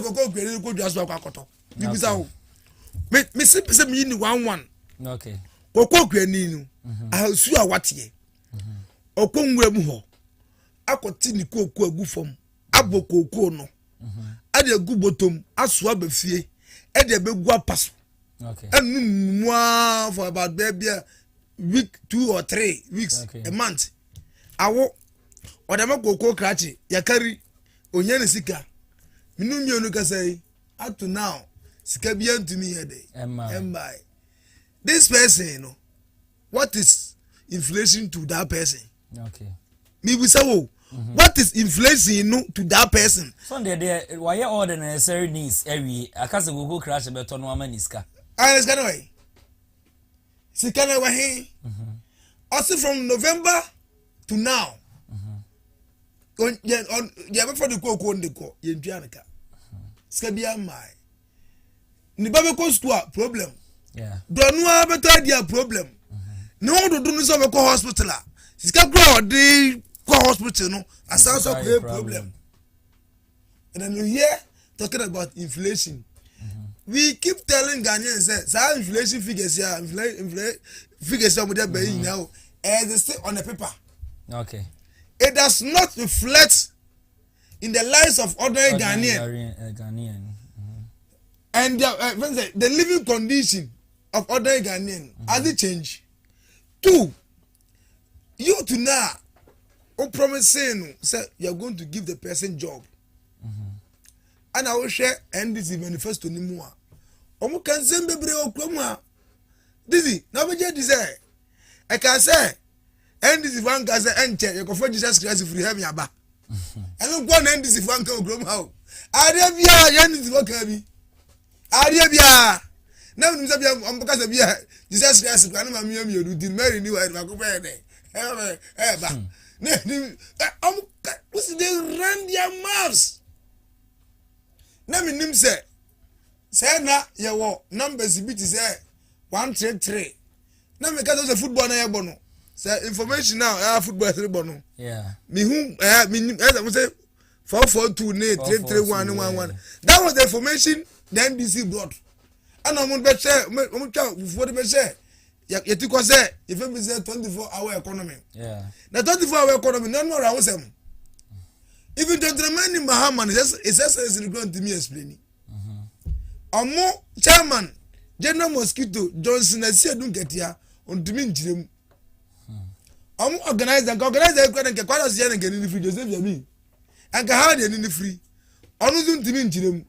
kɔkɔ okua ne kɔ dua so akɔ akɔtɔ bibisa o me me se pese mi ni one one kɔkɔ okua ni no mhm. ahasu a wateɛ ɔkɔ mhm. nwura mu hɔ akɔte ne kooko agu fam abɔ kooko no ɛde mhm. agu bɔtɔm aso aba fie ɛde abɛgu apa so ɛnu mu aa for about bɛɛ bia week two or three weeks okay. a month awo ɔdɛmɛ koko krakye yakari onye ne sika minu mmienu kasa yi up to now sika bi ntumi yɛ de ɛmbae this person no what is inflation to that person. mebisa wo mhm. what is inflation no to that person. so deɛ deɛ wayɛ all the necessary needs awie akasa koko crash bɛtɔ no ama ne sika. ayɛ ah, sika no wɛ sika no wɛ he ɔsi from november to now yɛ bɛfɔ de koko de kɔ yɛn dua no ka sika bi ama yɛ. ne ba bɛkɔ sukuu a problem dɔ no ara bɛtɔ adi a problem mm-hmm. ne ho dodo no sɛ ɔbɛkɔ hospital a sika kura a ɔde kɔ hospital no asan so akɔyɛ problem and then you hear talking about inflation mm-hmm. we keep telling ghanaians sɛ saa inflation figures ya ah, inflation figures ya ɔmɔdé bɛyi nyina o ɛyɛ de se on the paper okay. it does not reflect. in the lives of ordinary, ordinary Ghanaian, Ghanaian, uh, Ghanaian. Mm-hmm. and their, uh, the living condition of ordinary Ghanaian mm-hmm. has it changed? Two, you to now, o promising say you are going to give the person job. And I will share NDC manifesto ni mu a, wɔn kan sɛn bebree wɔ kurom a, didi na wɔn bɛ gye di sɛ. ɛka sɛ ndc fo anka sɛ ɛnkyɛ yɛkɔfa jesus christ firi heaven aba ɛno nkoa na ndc fo anka wɔ kurom ha o adeɛ biara yɛ ndc fo ka bi adeɛ biara na menim sɛ bia ɔmbɛka sɛ bia jesus christ kora ne ma mea mmienu nti mary ni wɔ baako bɛyɛ dɛ ɛba na ɛnim ɔmka wosi de run their mouths na menim sɛ sɛ na yɛwɔ numbers bi te sɛ one three three na mi kasa sɛ football na yɛ bɔ no sɛ information na ɛyà football ɛsɛ bɔ no mi hu ɛyà mi nim ɛsɛ mo sɛ four four two ne three three one ne one one that was the information the ndc brought ɛna wɔn bɛ hyɛ wɔn twa fufuo de bɛ hyɛ yɛti kɔ sɛ yɛfɛ bi sɛ twenty four hour economy na twenty four hour economy na ɔno ɔrɔ ahosɛm even twenty nine mahama no ɛsɛ sɛ ɛsɛ sɛ ɛsɛ ne kura ntumi explain. ɔmo chairman general mosquito johnson asi edu nkatia ɔntumi nkyerɛ mu ɔmo organizer nka organizer ekura ne nka kwara ɔsi yɛ ne nka ne ne firi joseph yami nka ha deɛ ne ne firi ɔno nso ntumi nkyerɛ mu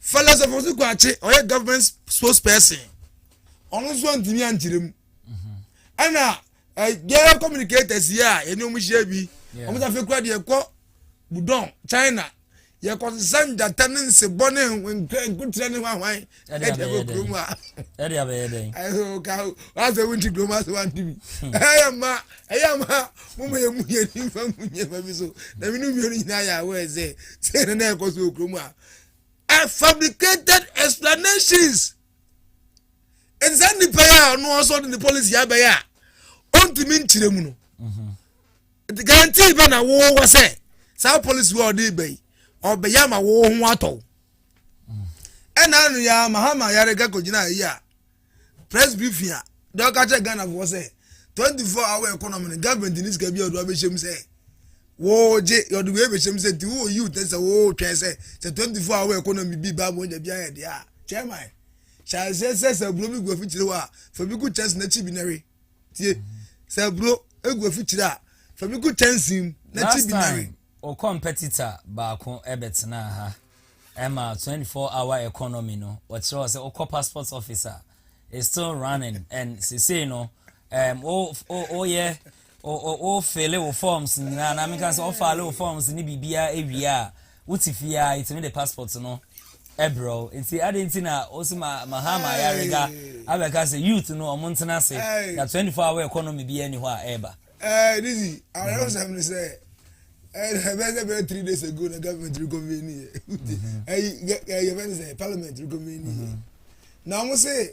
philosopher nso kɔ akye ɔyɛ government spokesperson ɔno nso ntumi ankyerɛ mu ɛna Eh, gay communicators yi a yɛne ɔmo hyia bi ɔmo sɛ afei kura deɛ kɔ budɔn china yɛkɔ sesa njata ne nsebɔ ne nkotirɛ ne hwahwan ɛde abɛyɛ kurom a ɛde abɛyɛ dɛn ɛso ka wasɛ wo nti kurom asɛ wante bi hmm. ɛyɛ ma ɛyɛ ma moma yɛ mu yɛ nimfa mu nyɛma bi so na mene mmienu nyinaa yɛ awɔ ɛsɛ sɛ ne na ɛkɔ so wɔ kurom a fabricated explanations ɛnti saa nipa yi a ɔno ɔsɔ de ne policy abɛyɛ a ɔntumi nkyerɛ mu no mhm. nti guarantee bɛ na wowɔ sɛ saa policy wɔ ɔde bɛ yi ɔbɛyɛ ama wo ho atɔw mhm. ɛna no yɛ mahama yare ka kɔgyina ayi a press briefing a deɛ ɔka kyerɛ ghanafoɔ sɛ 24 hour economy no government ne sika bi a ɔde abɛhyɛ mu sɛ Woo gye yɔde wei bɛhyɛ mu sɛ nti wowɔ youth ne sɛ woo twɛn sɛ sɛ 24 hour economy bi ba mu ɔnya bi ayɛ deɛ a chairman hyɛ aseɛ sɛ sɛ aburo bi gu afikyire hɔ a fa bi gu kyɛnse n'akyi bi nɛwe tie sɛ aburo egu afikyire a fa bi gu kyɛnse mu n'akyi bi nɛwe. O competitor baako ɛbɛtenaa ha ɛma 24 hour economy no ɔkyerɛ wɔ sɛ wokɔ passport office a is still running and sesei no um, woyɛ O o wo fele wo forms nyinaa anaa menka sɛ ɔfale wo forms ne biribiara awie a wote fie ara yɛtumi de passport no brɛ wo nti adɛn nti na wo se ma Mahama ayarega abɛka sɛ youth no ɔmo ntena ase na 24 hour economy biara nni hɔ a ɛreba. Ɛɛ Dizzy awerɛhosɛm ne sɛ ɛbɛyɛ sɛ bɛyɛ three days ago na government reconvene yɛ ɛyi yɛfɛ ne sɛ parliament reconvene yɛ na wɔn se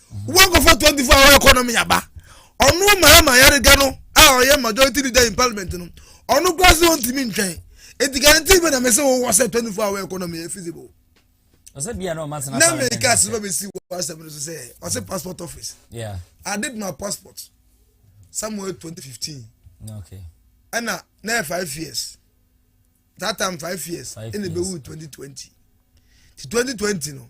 wankɔfa 24 hour economy aba ɔno mahama yariga no a ɔyɛ majority leader in parliament no ɔno kora sɛ ɔntumi ntwɛn enti guarantee bɛ na me sɛ wowɔ sɛ 24 hour economy yɛ feasible ɔsɛ bia na ɔma sena na me ka sɛ bɛ si wɔ asɛm no so sɛ ɔsɛ passport office yeah i did my passport somewhere 2015 okay ɛna na yɛ five years that time five years ɛna bɛ wu 2020 ti 2020 no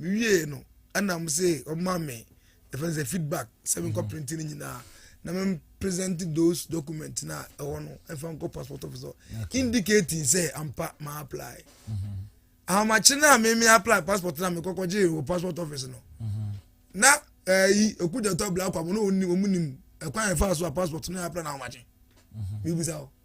mewiee no ɛna mo se ɔma me yɛfrɛ sɛ feedback sɛ menkɔ mhm. print no nyinaa na mem present those documents na ɛwɔ no ɛfa nkɔ passport office hɔ indicating sɛ ampa ma apply mhm. ahomakye no a meme apply passport na mekɔkɔgye wɔ passport office no mhm. na ɛyi eh, ɛku gyatɔ black kwabo na ɔmu nim ɛkwan ɛfa so a passport no yɛ apply na ahomakye mebisa hɔ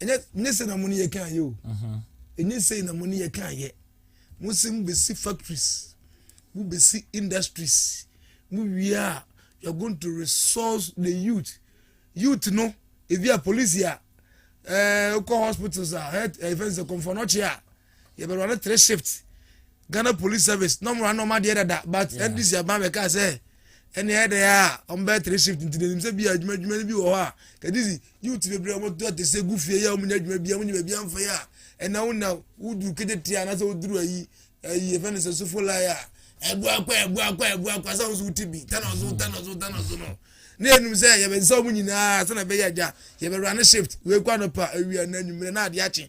ɛnyɛ ne sɛ na mo ne yɛ kan yɛ o mhm. ɛnyɛ sɛ na mo ne yɛ kan yɛ mo sɛ mo bɛsi factories mo bɛsi industries mo wie a you are going to resource the youth youth no ebi a police a ɛɛ eh, kɔ hospitals a health ɛfɛn eh, sɛ kɔnfɔnɔkye a yɛbɛ run ne three shift ghana police service na ɔmo run ɔmo adeɛ dada but ndc aban bɛ kaa sɛ ɛne ɛyɛ dɛ a ɔmo bɛ three shift nti n'anim sɛ bi a adwuma adwuma no bi wɔ hɔ a kadizi youth bebree ɔmo to ate sɛ gu fie yɛ ɔmo nya adwuma bi a ɔmo nya baabi anfa yɛ a ɛna wo na woduru ketetie anaasɛ woduru ayi ayi efɛn ne sɛ sofo lai a ɛbu akɔ ɛbu akɔ ɛbu akɔ asɛ ahosuo wuti bi tana ɔso tana ɔso tana ɔso no ne enum sɛ yɛbɛ nsa wɔn nyinaa sɛnɛ bɛyɛ agya yɛbɛ run shift wei kɔ anɔpa awia na enyimire na adeɛ akye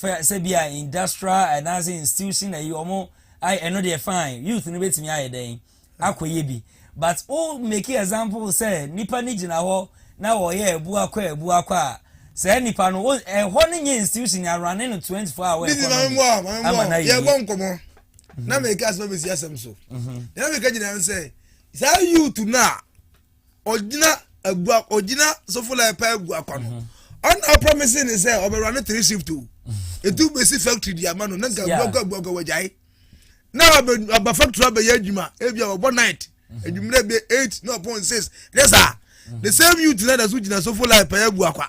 fɛ sɛbi a industrial anaasɛ institution na yi wɔn ayɛ ɛno deɛ fine youth no bɛtumi ayɛ dɛn akɔyɛ bi but o make example sɛ nipa no gyina hɔ na wɔyɛ ɛbu akɔ ɛbu akɔ a sɛ nipa no ɛhɔ no nyɛ institution yɛ awurane no twenty four hours ɛkɔ no mu ama na yɛ yɛ bɔ nkɔmɔ na mɛ ika asɛm bɛ si asɛm so na mɛ ika gyina sɛ saa youth no a. ɔgyina agua ɔgyina sofola ɛpɛ agua kwa no ɔna ɔpɔmisi ne sɛ ɔbɛwura no three shift o etu besi factory di ama no na nka agua kwa agua kwa wɔgyae na ɔba factory abɛyɛ adwuma ebi a ɔbɔ night adwumire bɛ eight na ɔpɔn six ne saa the same youth na ɛda so gyina sofola ɛpɛ agua kwa.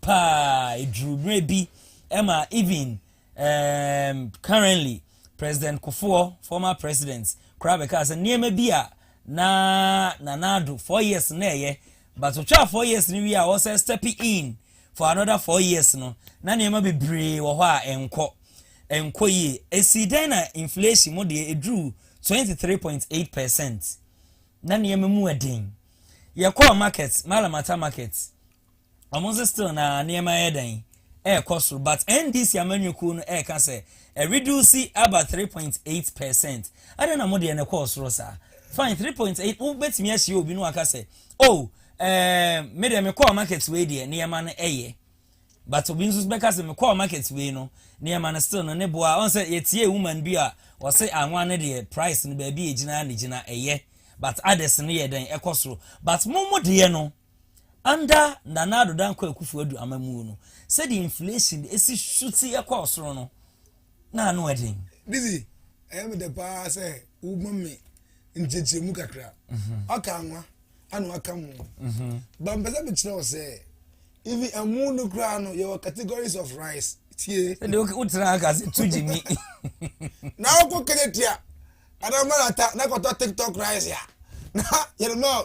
paa eduru berɛ bi ma even um, currently President Kufuor, former president, koraa bɛkaa sɛ nneɛma bi a na Nana Addo four years na ɛyɛ but ɔtwaa four years no wie a ɔsɛ step in for another four years no na nneɛma bebree wɔ hɔ a ɛnkɔ ɛnkɔ yie esi dɛn na inflation mu deɛ eduru twenty three point eight percent na nneɛma mu ɛden yɛkɔɔ market malamata market. Ɔmo nso still na nneɛma yɛ dɛn? Ɛɛkɔ soro but NDC amanyɔ kuo no ɛɛka sɛ ɛreduusi aba three point eight percent. Adɛn na mo deɛ no kɔɔ soro saa? Fine three point eight wo bɛtumi ahyia obi na waka sɛ oh ɛɛm me deɛ me kɔɔ market wei deɛ nneɛma no ɛyɛ but obi nso bɛka sɛ me kɔɔ market wei no nneɛma no still no ne boa ɔn sɛ yɛtie woman bi a ɔse anwa no deɛ price no baabi ɛgyina ne gyina ɛyɛ but others no yɛ dɛn ɛkɔ soro but mo mo deɛ no Under Nana Addo Dankwa Akufo-Addo amammuo no, sɛdeɛ inflation si su te kɔ soro no, na ano yɛ den. Dizzy, ɛyɛ me dɛ paa sɛ woma me nkyerɛkyerɛmu kakra. Mhm. Waka anwa, ana waka mo. Mhm. Ba mpɛ sɛ mekyerɛ wo sɛ, even ɛmo no koraa no, yɛwɔ categories of rice. Tie. Ɛde wotena aka sɛ tu gye mi. Na wokɔ kɛnɛ tia, ana mmarata na kɔtɔ tiktok rice a, na yɛde ma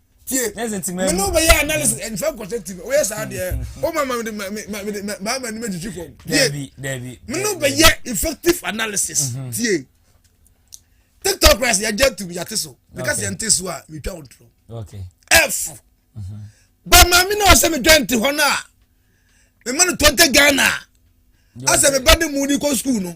tie me ne wobɛyɛ analysis ɛmfa mm. nkɔsɛ ti no woyɛ saa deɛ woma ma mede maama anim agyigyi fam tie me ne wobɛyɛ effective analysis mm-hmm. tie tiktok ras yɛgya tum yɛate so meka sɛ yɛnte so a metwa wo ntorɔ ɛfo mm-hmm. ba maame ne ɔsɛ medwa nte hɔ no a mema no tɔnte ghana a asɛ meba ne mu ne kɔ skuul no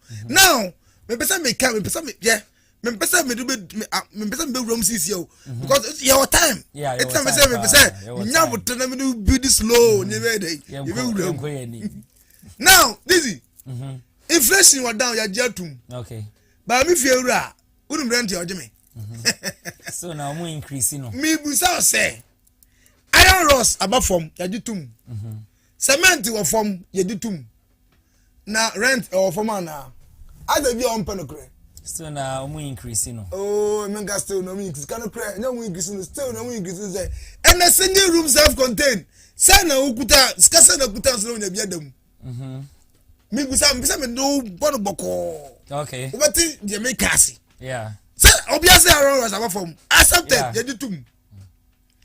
now mepɛ sɛ meka mepɛ sɛ meyɛ mepɛ sɛ mede bɛ mepɛ sɛ mebɛwura mu sisi o mm-hmm. because yɛ wɔ time ɛti na mepɛ sɛ mepɛ sɛ nya abotire na mede bi di slow ne bɛyɛ dɛ yɛ bɛ wura mu now dizzy mm-hmm. inflation wɔ down yagye atum baa mi fie wura a wonum rent yɛ ɔgye me mm-hmm. so na ɔmo increase no mebusa sɛ iron rods aba fam yagye tum cement wɔ fam yɛde tum Na rent ɛwɔ fam anaa? Ada bi a ɔmpɛ nokorɛ. Still na ɔmo increase no. Oh, me nka still na ɔmo increase. Ka nokorɛ, ɛnyɛ ɔmo increase no, still na ɔmo increase no sɛ ɛnɛ single room self contained. Sɛ na okuta sika sɛ na okuta nso na onya bi ada mu. Mhm. Me bisa me bisa me do bɔ no bɔkɔɔ. Okay. Wobɛte deɛ me ka ase. Yeah. Sɛ obi ase around us aba fam. Accepted, yeah. yɛgye tum.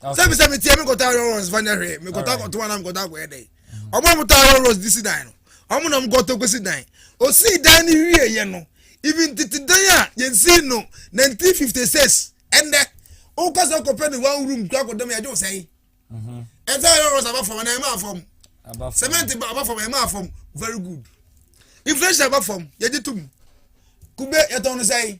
sɛbi sɛ metie me nkɔta iron rods fa nyɛ hwee mekɔta kɔtoa na mekɔta akɔyɛ dɛn ɔmo a mota iron rods de si dan no ɔmo na mokɔtɔ kɔsi dan ɔsii dan no wieɛ no even tete dan a yɛnsii no 1956 ɛndɛ woka sɛ kɔpɛ ne one room kura kɔdam yɛgye wo sɛe ɛsɛ iron rods aba fam anaa ɛma afam cement aba fam ɛma afam very good inflation aba fam yɛgye tom kube yɛtɔn no sɛe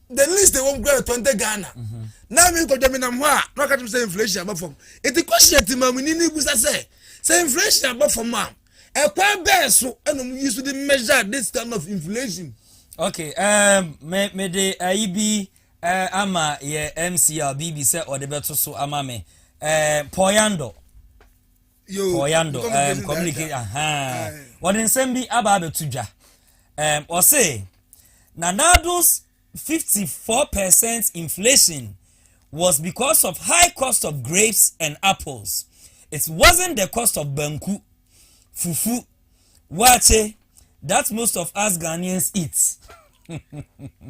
the least ɛwɔ mu kura twenty ghana na mi nkɔdwa mi nam hɔ a na ɔka kyerɛ mi sɛ inflation aba fam eti question ati maa mi ni ni busa sɛ sɛ inflation aba fam a ɛkwan bɛɛ so ɛna ɔmo yi so de measure this kind of inflation. okay um, me me de ayi uh, bi uh, ama yɛ mcr bb sɛ ɔde bɛto so ama me uh, eh, pɔyando. kɔɔyando ɛɛm communicate ahaa wɔde nsɛm bi aba abɛto dwa ɛɛm ɔse na nado's fifty four percent inflation was because of high cost of grapes and apples it wasn't the cost of banku fufu waakye that most of us ghanaians eat.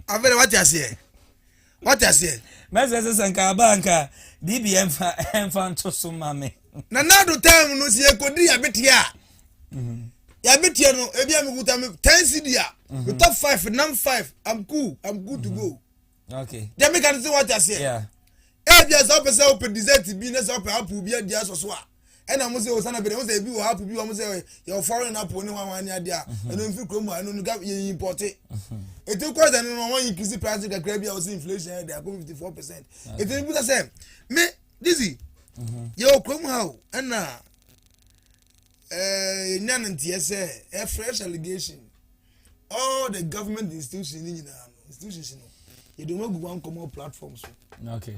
afei na wate aseɛ Wate aseɛ? Mɛsɛ sɛ sɛ nka aba nka biribi ɛmfa ɛmfa nto so ma me. Na n'ado time no sɛ yɛkɔdi yabeteɛ a mhm. yabeteɛ no ebi a mekuta me ten cd a mhm. metɔ five nam five I'm cool I'm good to mhm. go. Okay. Deɛ meka no sɛ wate aseɛ. Yeah. Ebi a sɛ wopɛ sɛ wopɛ dessert bi na sɛ wopɛ apple bi adi asɔ so a. ɛna wɔn sɛ ɔsan abɛdɛ wɔn sɛ ebi wɔ app bi wɔn sɛ yɛ foreign app ne ho ahoa ne adeɛ a mhm. ɛno nfiri kurom a ɛno no gab yɛ impɔte mhm. eti kɔɔ sɛ no wɔn increase price kakra bi a wɔsi inflation yɛ de akɔ fifty four percent eti ne busa sɛ me dizzy mhm. yɛ wɔ kurom ha o ɛna ɛɛ nya ne nteɛ sɛ ɛ fresh allegation all the government institutions ne nyinaa no institutions no yɛ de wɔn agu wɔn nkɔmɔ platform so. Okay.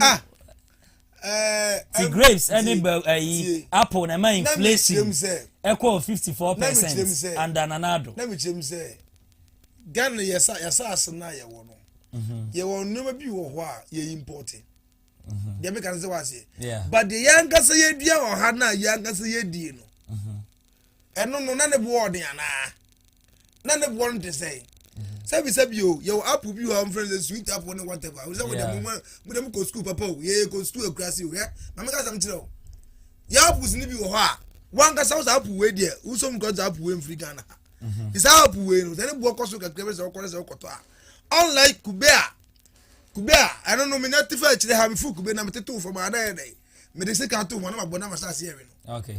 ah ti grapes ɛne bɛ ɛyi apple na ɛma inflation ɛkɔ fifty four percent under nana ado. na mi kyerɛ mu sɛ ghana yasa yasa ase na yɛ wɔ no mhm. yɛ wɔ nneɛma bi wɔ hɔ a yɛ import mhm. deɛ mi ka sɛ wɔ aseɛ but deɛ yɛn ankasa yɛ dua wɔ ha na yɛn ankasa yɛ die no. Mhm. Ɛno no, na ne boɔ ɔden anaa? Na ne boɔ no te sɛn? sɛbi sɛbi o yɛwɔ app bi wɔ ɔmo fɛn sɛ sweet app ne whatever o sɛ mo dɛm mo mo dɛm kɔ sukuu papa o yɛ kɔ sukuu akurase o yɛ maame ka sɛm kyerɛ o yɛ apps ne bi wɔ hɔ a wankasa wɔ sɛ app wei deɛ wosɔ mu kɔ sɛ app wei mfiri ghana ha mhm. sɛ app wei no sɛ ne boɔ kɔ so kakra bi sɛ ɔkɔ sɛ ɔkɔtɔ a unlike kube a kube a ɛno no menya te fɛ akyire ha mefo kube na metete wo fam a na yɛ dɛ mede sika to ho na mabɔ na mahyɛ aseɛ we no okay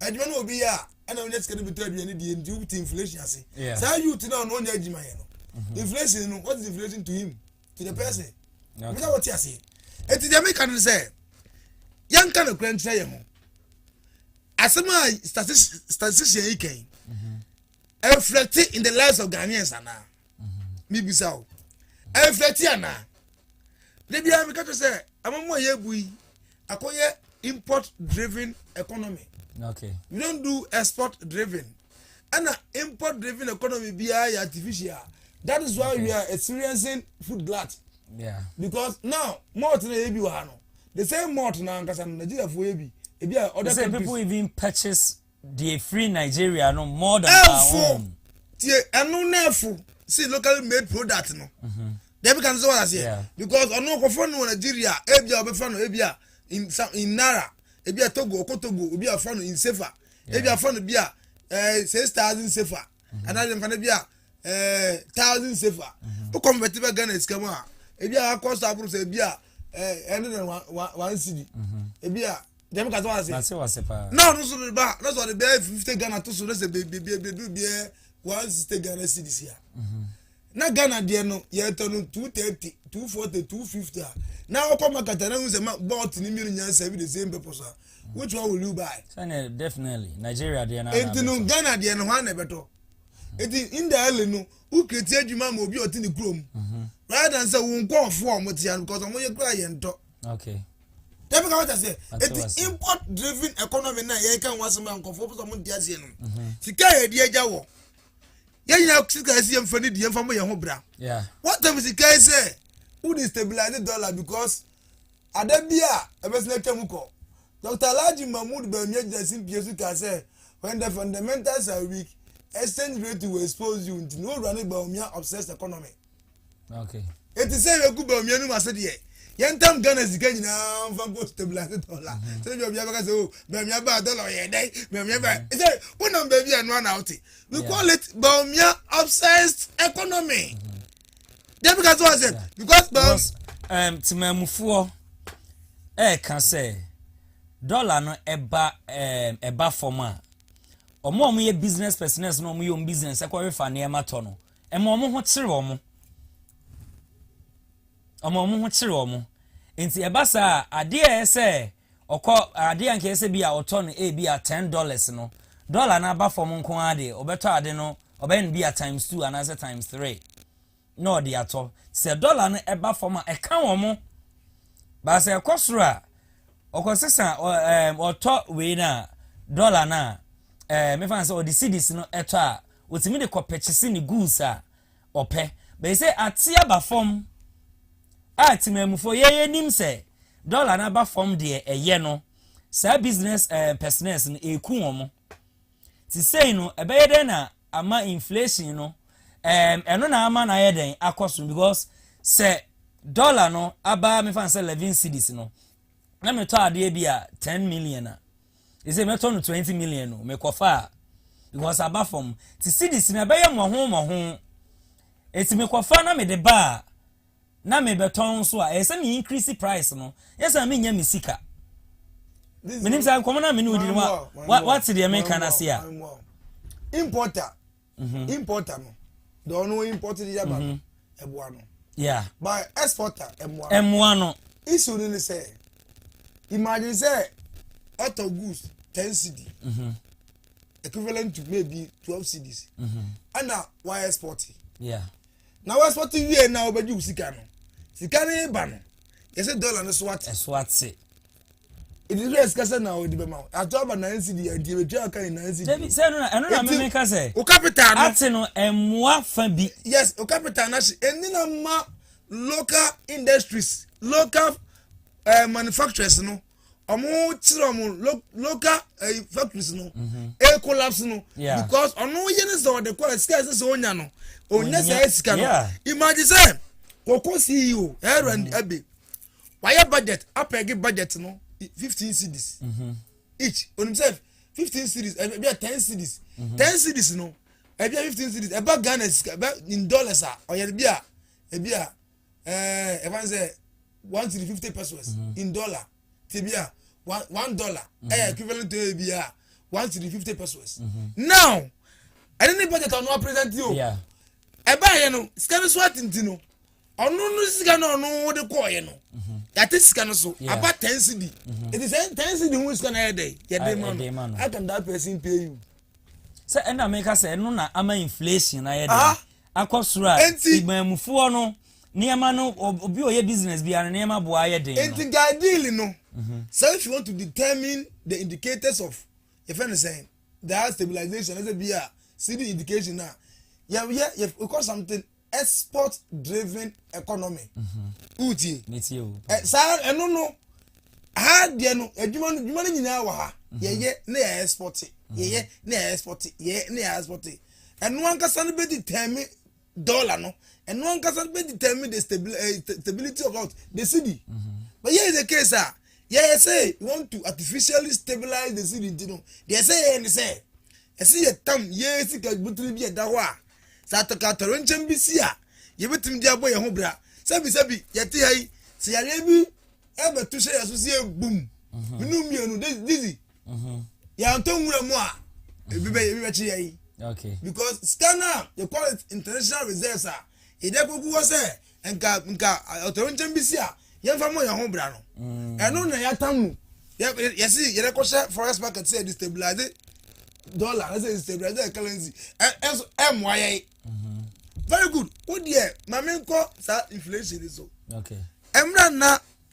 adwuma no obi yɛ a ɛna wonya sika no bi tɔ aduane die nti wobte inflation ase saa youth no a ɔno ɔnyɛ adwuma yɛ no mhm. inflation no what is inflation to him to the mhm. person mesa wɔte aseɛ ɛti deɛ meka no sɛ yɛnka no kora nkyerɛ yɛ ho asɛm a statistician yi kan mhm. ɛnflɛte in the lives of ghanaians anaa mebisa o ɛnflɛte anaa da biara meka kyerɛ sɛ amamu a yɛbu yi akɔyɛ import driven economy okay. we don't do export driven ɛna import driven economy biara yɛ artificial that is why okay. we are experiencing food glut yeah. because now malt na yɛ bi wɔ ha no the same malt na ankasa no nigeria fo yɛ bi ebi a other countries. people even purchase Deɛ firi Nigeria no more than our own. Ɛnfo tie ɛno na ɛfo si locally made product no. Deɛ meka no sɛ wɔn aseɛ because ɔno ɔkɔfɔ no wɔ Nigeria ebi a ɔbɛfa no ebi a in some in naira ebi a Togo ɔkɔ Togo obi a ɔfa no in sefa ebi afa no bi a ɛɛ eh, six thousand sefa anaa deɛ mfa no bi a ɛɛ eh, thousand sefa o convert bɛ Ghana sika mu a ebi a akɔ so aboro sɛ ebi a ɛɛ eh, ɛne na one cedi ebi a. Jẹmu kasa wa se. Mase wase paa. Na ọdun so de ba na so ọde bẹẹ fifty Ghana to so na sẹ beebi beebi edu bẹẹ one sixty Ghana cedis ya. Mhm. Na Ghana deɛ no yɛ tɔ no two thirty two forty two fifty a na ɔkɔ market na ehu sɛ ma bɔt ne mmienu nyinaa sɛ ebi the same purpose a mhm. which one will you buy. sani definitely Nigeria deɛ na. Eti no Ghana deɛ no hɔ ana ɛbɛtɔ eti indirectly no wukireti adwuma ma obi a ɔte ne kurom mhm. rather than sɛ wo nkɔɔfoɔ a wɔn te ya no because wɔn yɛ kura yɛn tɔ. okay dabi ka wata sɛ eti import driven economy na yɛn kan wasɛm a nkɔfo pɔsɔ mo ntia seɛ no mhm. sika yɛ di agya wɔ yɛn nyinaa sika yɛ si yɛn fɛ ne di yɛn fa mo yɛn ho bra wɔtɛm sika yɛ sɛ wo de stabilize dollar because ada bi a ɛbɛsɛn atwa mu kɔ dr alhaji mahmood bɛmi agyina si mpie so ka sɛ when the fundamentals are weak exchange rate will expose you nti ne owura ne baomia obsessed economy. eti sɛ yɛku bɛ omienu mu ase deɛ yɛn tam ghana sika nyinaa nfa nkɔ stabilize dɔla sɛ ebi obi abɛka sɛ o bɛmia ba dɔla ɔyɛ dɛ bɛmia ba sɛ wonam baabi a noa na ɔte we call it bɛmia obsessed economy deɛ bi ka so ɔsɛ because bɛm. Um, temamufoɔ ɛɛka sɛ dɔla no ɛba um, ɛba fam a wɔn a wɔyɛ business personnel no wɔyɛ wɔn business ɛkɔrefa nneɛma tɔ no. Ɛma wɔn ho kyere wɔn. Ɛma wɔn ho kyere wɔn. Nti ɛba saa a, adeɛ a ɛyɛ sɛ ɔkɔ, adeɛ a nka ɛyɛ sɛ bi a ɔtɔ no ebi a ten dollars no, dollar no aba fam nko ara deɛ, ɔbɛtɔ ade no, ɔbɛyɛ no bi a times two anaasɛ times three na ɔde atɔ. Sɛ dollar no ɛba fam a, ɛka wɔn. But sɛ ɛkɔ soro a, Ɔkɔ sesa ɔ ɛɛm ɔtɔ wei no a dɔla no a ɛɛ mefa no sɛ ɔde cedis no ɛtɔ a ɔtumi de kɔ pɛkyese ne guus a ɔpɛ bɛyi sɛ ate aba fam a temanmufoɔ yɛ yɛnim sɛ dɔla no aba fam deɛ ɛyɛ no saa business ɛɛ pɛsnɛs no ɛku wɔn Sesei no ɛbɛyɛ dɛn na ama inflation no ɛɛm ɛno na ama no ayɛ dɛn akɔ so because sɛ dollar no aba mefa no sɛ eleven cedis no na metɔ adeɛ bi a ten million a ɛsɛ mɛtɔ no twenty million no mekɔfa a because aba fam te cedis no ɛbɛyɛ mmɔho mmɔho ɛti mekɔfa na mede ba a na mebɛtɔn nso a, ɛyɛ sɛ me increase price no, nyɛ sɛ menya me sika. Menim sɛ nkɔmmɔ no a me ne wo di no, wate deɛ meka no ase a. Importer, mhm. importer no, deɛ ɔno import de yaba no, mhm. ɛboa no. Yeah. But exporter, ɛmoa no. Ɛmoa no. Issue no ne sɛ, imagine sɛ ɔtɔ goods ten cedi. Mhm. Equivalent to maybe twelve cedis. Ɛna why export? Yeah. na w'asɔte wie na wobɛgye wo sika no sika no ba no yɛsɛ dɔla no so ate so ate ɛdi so yɛ sika sɛ na ɔde bɛma wo ato aba nan si deɛ nti ɛbɛtwa aka ne nan si deɛ sɛ ɛno na ɛno na meme ka sɛ wo capital no ate no ɛmmoa fa bi yes wo capital no ahye ɛni na ma local industries local uh, manufacturers no ɔmo kyerɛ ɔmo local eh, factories no mhm. e collapse no because ɔno yɛ ne sɛ ɔde kɔ ɛsika ɛsɛ sɛ ɔnya no ɔnya sɛ ɛsika no imagine sɛ wɔkɔ ceo ɛrɛ and ɛbe wayɛ budget apɛgi budget no fifteen cities mhm. each onim sɛ fifteen cities ɛbi eh, a ten cities mhm. ten cities no ɛbi a fifteen cities ɛba ghana ɛba in dollars a ɔyɛ bi a ɛbi a. ɛɛ ɛfa n sɛ one three fifty pesos mm. in dollar tebi a one one dollar ɛyɛ mm-hmm. equivalent to ebi a one three fifty pesos mm-hmm. now ɛne ne budget ɔno apresent yi o ɛbaa yɛ no sika no so atinti no ɔno no sika no ɔno wode kɔɔyɛ no mm-hmm. yàtí sika no so aba ten cd ètò sẹ ten cd ho sika no ayɛ dɛ yɛ dé ma no how can that person pay you. sɛ ɛna mi ka sɛ ɛno na ama inflation ayɛ dɛ. akɔ soro a Enti- iban mu foɔ no nneɛma no ob- obi a ɔyɛ business biara no nneɛma boa ayɛ den no Enti nka ideally no, sɛ if you want to determine the indicators of yɛfrɛ no sɛn daa stabilization ɛsɛ bi a cd indication a yɛyɛ yɛ- we call something export driven economy. Wotie? metie o Ɛ, saa ɛno no ha deɛ no adwuma no adwuma no nyinaa wɔ ha yɛyɛ na yɛ export yɛyɛ na yɛ export yɛyɛ na yɛ export Ɛno ankasa no bɛ determine dollar no. Ɛno ankasa no bɛ determine the stability, uh, eh, stability of what the city. Mm -hmm. But here is the case ah, yeah, say you want to artificially stabilize the city nti no, deɛ ɛsɛ yɛ ne sɛ, ɛsɛ yɛ tam yɛ sika butiri bi ɛda hɔ a, sɛ atɔkatɔre nkyɛn bi si a, yɛbɛtumi de abɔ yɛn ho bra. Sɛbisɛbi yɛte ha yi, sɛ yareɛ bi ɛbɛto hyɛ yɛ so si yɛ bum. Mmienu mmienu, dizzy. mhm. yɛantɔ nwura mu a ebi bɛ ebi bɛkye yɛn okay because sika no a they call it international reserves a yɛde akogu hɔ sɛ nka nka ɔtɔwɛnkyɛm bi si a yɛmfa mmɔ yɛn ho bra no Mm. ɛno na yɛata mu Yɛ- yɛ- yɛse yɛde kɔhyɛ forex market sɛ yɛde stabilize dollar na sɛ yɛde stabilize yɛ currency Ɛ- ɛnso ɛmmoa yɛn very good wo deɛ ma menkɔ saa inflation yi so okay mmerɛ nna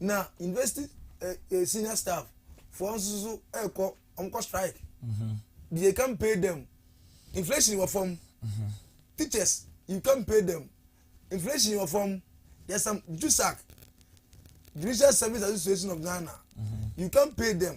na university eh, eh, senior staff foɔ nso so ɛkɔ wɔn kɔ strike mm-hmm. they can pay them inflation wɔ fam mm-hmm. teachers you can pay them inflation wɔ fam there's some jusac judicial service association of ghana mm-hmm. you can pay them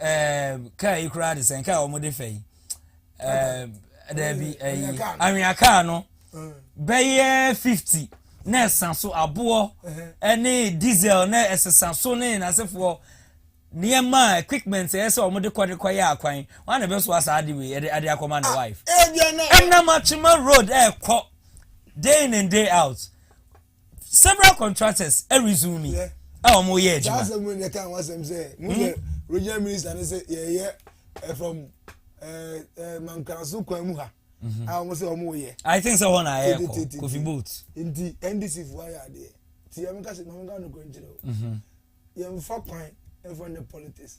ɛɛ kaa yi koraa de sɛn kaa a wɔde fɛ yi ɛɛ dɛbi ɛyi anwea kaa no bɛyɛ fifty na ɛsa so aboɔ ɛne diesel na ɛsesa so ne n'asefoɔ nneɛma equipment ɛyɛ sɛ wɔn de kɔ de kɔ yɛ akwan wɔn na ɛbɛ so asa adi wei ɛde ade akɔma ne wife ɛnam atwema road ɛɛkɔ day in and day out. several contractors resume me a wɔn yɛ adwuma. saa asɛm mu ne ka ho asɛm sɛ mo yɛ hmm? regional minister ne sɛ yɛyɛ eh, from eh, eh, mankraso kwan mu ha mhm. a ah, wɔn sɛ wɔn yɛ. i think sɛ wɔn na ayɛ kɔ kofi boat. nti ndc fo ayɛ adeɛ ti yɛn mo ka se mo ka no kɔ nkyerɛ o yɛn fa kwan ɛfɔ ne politics.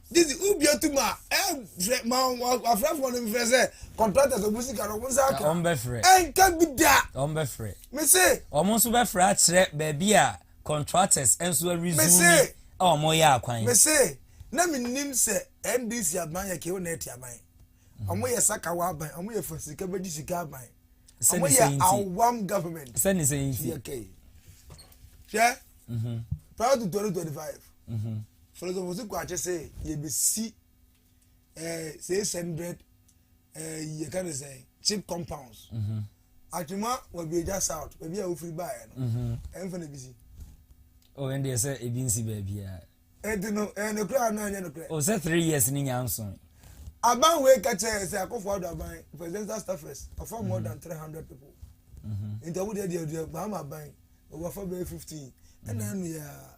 Gye sɛ wubue to mu a, frɛ ma w'afrɛfoɔ no mfrɛ sɛ contractors ɔmo sika no ɔmo nsa aka. Ɔmo bɛfrɛ. Ɛnka bi da. Ɔmo bɛfrɛ. Mese. Ɔmo nso bɛfrɛ akyerɛ baabi a contractors nso arizumi a ɔmo yɛ akwan. Mese na menim sɛ NDC aban yɛ kew na ɛte aban. Ɔmo mm. yɛ sakawa aban, ɔmo yɛ fa sika bɛgye sika aban. Ɔmo yɛ awam government. Sɛne sɛ nti. Hwɛ. Mhm. Prior to 2025. Philosopher si kɔ akyɛ sɛ yɛbɛsi eh, six hundred eh, yɛka ne sɛ cheap compounds mhm. atwema wabiagya south baabi a wofiri baeɛ no mhm. ɛmfa no bi si oh, ɛndeɛ sɛ ebi nsi baabiaa ɛnti no ɛyɛ nokorɛ a na ɛnyɛ nokorɛ oh, sɛ three years ne nya nso aban wei ka kyerɛ sɛ akɔfo ado aban presidential staffers ɔfa more than three hundred people nti ɔmo deɛ deɛ deɛ baama aban ɔwɔ afa bɛyɛ fifteen ɛna ɛno yɛ a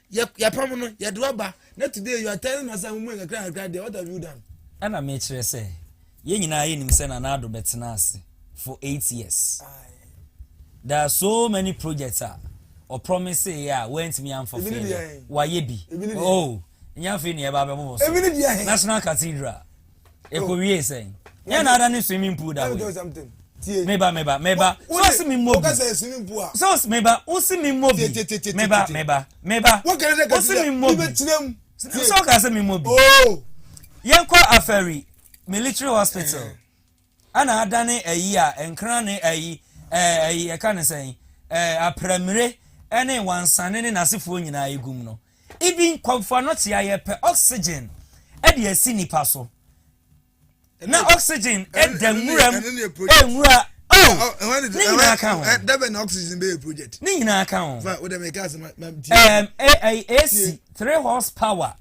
Yɛ yɛpam no, yɛde wo aba, na today you are telling us sɛ mo mu yɛ kakra kakra deɛ, what have you done? Ɛna mekyerɛ sɛ, yɛn nyinaa yɛnim sɛ Nana Addo bɛtena ase for eight years. There are so many projects a ɔpromise yɛ a wantumi amfa fee no, wayɛ bi. Oh, nyɛ afei na yɛba abɛbobɔ so. National Cathedral. Eko wie sɛn? Nyɛ na ada ne swimming pool da wei. Meba meba meba. So ɔsi mi mmɔ bi. So ɔsi meba ɔsi mi mmɔ bi. Meba meba meba. Ɔsi mi mmɔ bi. So ɔka sɛ mi mmɔ bi. Yɛn kɔ afɛri military hospital. Ana adane ayi a nkra ne ayi eh ayi yɛka ne sɛn eh apramire ne wansane ne n'asefoɔ nyinaa egum no. Ibi nkɔmfoɔ no tea yɛpɛ oxygen de asi nipa so na oxygen da nwuram eh nwura oh ne nyinaa ka ho. Dɛbɛ na oxygen bɛyɛ project. Ne nyinaa ka ho. Fa o dɛm ɛka asɛm ma ti. Um, eh, eh, AC three horsepower.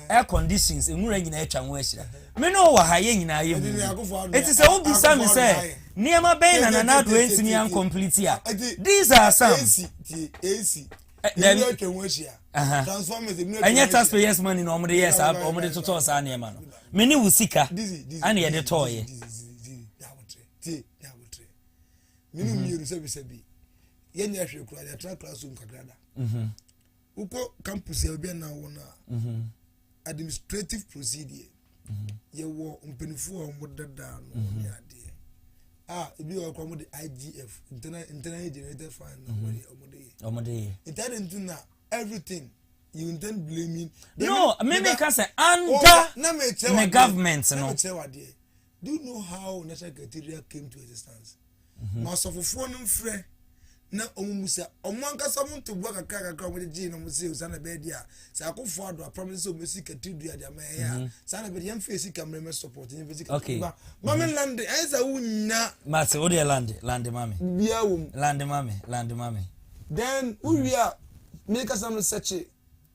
Air conditions, nwura nyinaa atwa ho ahyira. Me ne wo wɔ ha, yɛn nyinaa yɛ mu bi. Enti sɛ wobisa me sɛ, nneɛma bɛn na Nana Addo antumi ankɔmpliti a, these are some. Dabi, ɛnyɛ taxpayers money na wɔde yɛ saa, wɔde totɔɔ saa nneɛma no. Me ne wo sika, ɛna yɛde tɔɔyɛ. Mene mmienu sɛbisɛbi, yɛnyɛ hwee koraa, yɛtra classroom kakra da. Wokɔ campus a obi anaa wɔn a, mhm. administrative procedure mhm. yɛwɔ mpanimfoɔ a wɔn dadaa no wɔn mhm. adeɛ a ebi wɔ kɔ wɔn de IGF internal internally generated fund na wɔn yɛ wɔn de yɛ wɔn de yɛ ntaade nti na everything you intend blaming. no mímí ka sɛ under ne government no. na mi kyerɛ wa deɛ Do you know how National Secretariat came to existence? Mhm. Ma asɔfofoɔ no mfrɛ na wɔn mu sa wɔn ankasa wɔn ntoboa kakra kakra wɔn gyegye na wɔn se saa na ɛbɛyɛ deɛ a sɛ akofo ado apam ne sɛ wɔn esi katiri dua de ama ɛyɛ a mhm. saa na ɛbɛyɛ yɛn fɛ esi kamere mɛ support yɛn fɛ esi katiri ba maame mhm. lande ɛyɛ sɛ awo nya. maase o deɛ lande lande maame. bia wɔm. lande maame lande maame. then o wia mi kasa no sɛkye.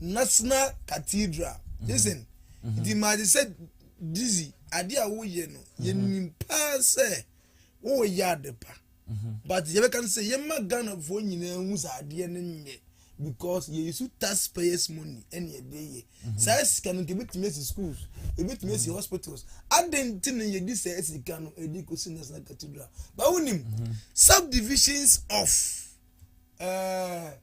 national cathedral mhm. listen mhm. nti maa de sɛ dizzy adeɛ a woyɛ no mhm. yɛnim paa sɛ woyɛ ade pa but yɛbɛka no sɛ yɛma ghanafoɔ nyinaa hu sɛ adeɛ no nyɛ because yɛ use taxpayers money ɛna yɛde yɛ saa sika no nka ebitumi esi schools ebitumi esi hospitals adan ti na yɛde saa sika no ɛde kosi national cathedral bawo nim subdivisions of. Uh,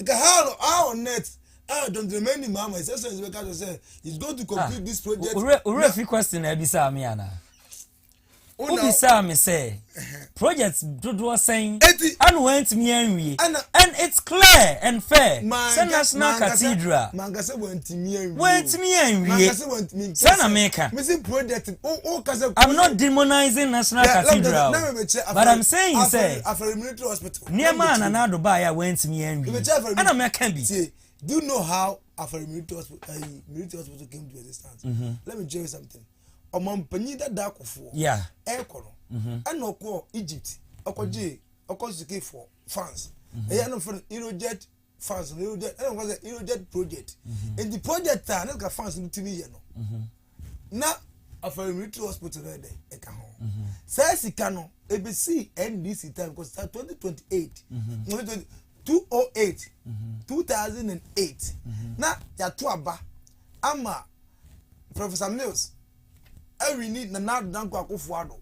Nka ha no a on net a John Dramani Mahama His Excellency bɛka kyerɛ sɛ he is going to complete this project. Owura owura fi question na ɛbisaa mi ana. Wobisaa mi sɛ project dodoɔ sɛn ɛna wɔn ntumi anwie and it's clear and fair sɛ national cathedral wɔn ntumi anwie sɛ na mi ka I'm not demonizing national cathedral but I'm saying sɛ. Nneɛma a Nana Addo baeɛ a wantumi anwie a na mɛka bi. Do you know how Afari Military Hospital, uh, eh, Military Hospital came to existence? Mm -hmm. Let me tell you something. Ọmọmpanyin dada akɔfoɔ. Yeah. Ɛkɔ no. Mm-hmm. Ɛna ɔkɔ Egypt. Ɔkɔ gye ɔkɔ sukuu for France. Mm-hmm. Ɛyɛ no fɛn Eurojet fans no eroded ɛna wɔn sɛ eroded project mhm. nti project a ne ka fans no tumi yɛ no mhm. na afɛn military hospital no ɛdɛ ɛka ho mhm. saa sika no ebesi ndc time kɔ sa twenty twenty eight two oh eight two thousand and eight na yato aba ama professor mills ɛwini nana danko akofo ado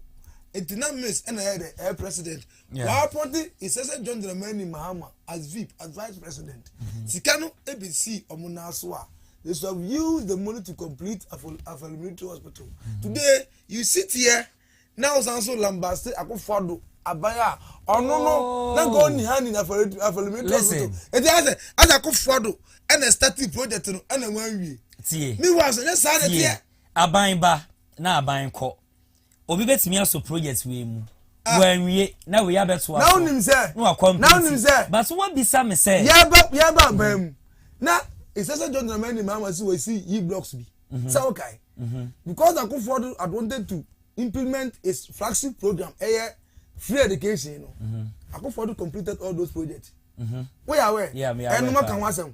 nti na mills ɛna ɛyɛ dɛ ɛyɛ president wɔapɔnte Nsese John Dramani Mahama as VIP, as Vice President. Mm-hmm. Sika no ebi si wɔn nan so a, they should have used the money to complete Afɔl Military Hospital. Mm-hmm. Today, you sit here, na ɔsan so lambaste akofo do aban a ɔno no oh. na nka ɔni ha ni na Afɔl Military Hospital. Eti asɛ, asɛ akofo do ɛna starting project no ɛna wɔn awie. Tie. Mi wa so, ne saa na tie. Aban ba na aban kɔ. Obi betumi asɔ project wei mu. Ah. Wɔanwie na wei abɛtoa so. Na wonim sɛ. Na wakɔ mpɛnti. Na wonim sɛ. Baso wabisa me sɛ. Yɛba yɛba abaa mu. Na ɛsɛ sɛ John Dramani maa ma si wɔsi yi blocks bi. Mhm. Sɛ wokae. Mhm. Because akofoɔ do had wanted to implement his flagship program ɛyɛ free education no. Mhm. Akofoɔ do completed all those projects. Woyɛ awɛ. Ɛnoma ka ho asɛm.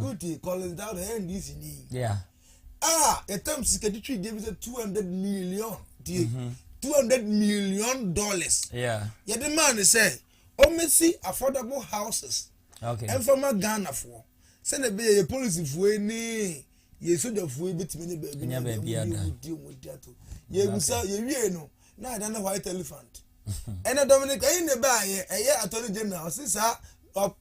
Wotie Collins Dowdle yɛ NDC ni a yɛtam sika de twi deɛ bi sɛ two hundred million die mhm. two hundred million dollars yɛde maa ne sɛ ɔmmɛsi affordable houses ɛmfama Ghanafoɔ sɛdeɛ ɛbɛyɛ yɛ polisifoɔ ni yɛn sojafoɔ yi bɛtumi ne baabi no ɛdeɛ mudi mudi mudi ato yɛbusa yɛwie no na ɛda ne white elephant ɛna dominic ɛyi ne baayɛ ɛyɛ attorney general ɔse saa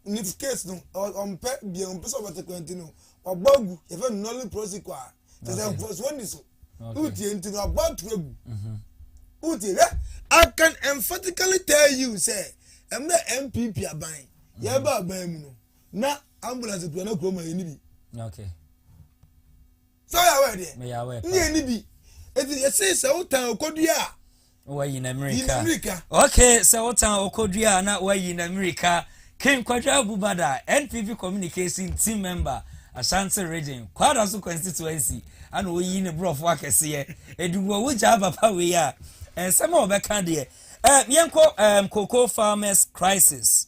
ne case no ɔmpɛ bia ɔmpɛ sɛ ɔbɛte kwanti no wabɔ agu yɛfɛ no nolly prosecute a kyɛ sɛ mfɔsoɔ ni so wotie nti no wabɔ ato agu wotie hwɛ i can emphatically tell you sɛ ɛmmerɛ mpp aban yɛba aban mu no na ambulance kura na kura mu a yɛn ni bi. okay. sɛ ɔyɛ awɛ deɛ meyɛ awɛ paa ne yɛn ni bi eti yɛsi sɛ wotan okodua a. wayi na mirika yi na mirika. okay sɛ wotan okodua a na wayi na mirika king kwadwo abubada npp communication team member ashanti region kwada so constituency ana oyi ne borɔfo akɛseɛ edugu ɔwɔ gya abapa wei a nsɛm a ɔbɛka deɛ ɛɛ yɛnkɔ ɛɛ cocoa farmers crisis.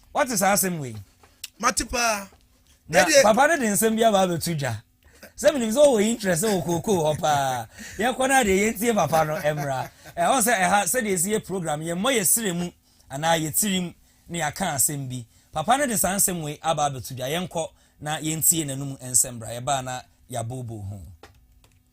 Woate saa asɛm wei? Mate paa. Na papa no de nsɛm bi aba abɛto dwa. Sɛ menim sɛ ɔwɔ interest wɔ kookoo hɔ paa. Yɛkɔ no adeɛ yɛntie papa no mmra. Ɛwɔ sɛ ɛha sɛdeɛ ɛsi yɛ program yɛmmɔ yɛ serɛ mu anaa yɛ tirim na yɛaka asɛm bi. Papa no de saa nsɛm wei aba abɛto dwa. Yɛnkɔ na yɛntie n'anum nsɛm bra. Yɛbaa na yɛabooboo ho.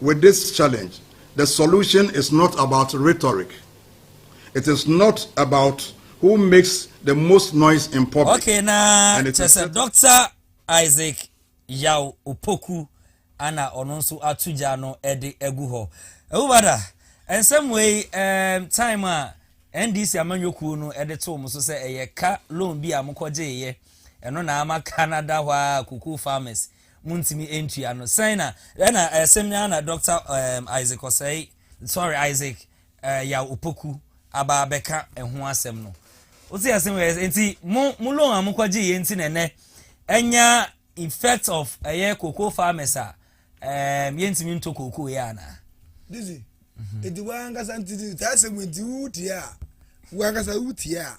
With this challenge, the solution is not about rhetoric, it is not about who makes the most noise in public. Okay, na kyɛ sɛ Dr. Isaac Yaw Opoku ana ɔno nso ato gya no de agu hɔ. Ewubada, nsɛm wei um, time a NDC amanyɔkuo no de too mo so sɛ ɛyɛ ka loan bi a mokɔgyeeɛ ɛno na ama ka no ada hɔ a cocoa farmers Montumi ntua no. Sɛn na, ɛna ɛsɛm yi ara na Dɔkta ɛɛm Isaac Osei, sorry Isaac ɛɛ Yaw Opoku aba abɛka ɛho asɛm no. Wote asɛm wei ase, nti mo mo loan a mokɔ gye yɛ nti na ɛnɛ ɛnya effect of ɛyɛ cocoa farmers a ɛɛm yɛntumi ntɔ cocoa yɛ anaa? Dizzy, nti wankasa nti saa asɛm wei nti wotie a, wankasa wotie a.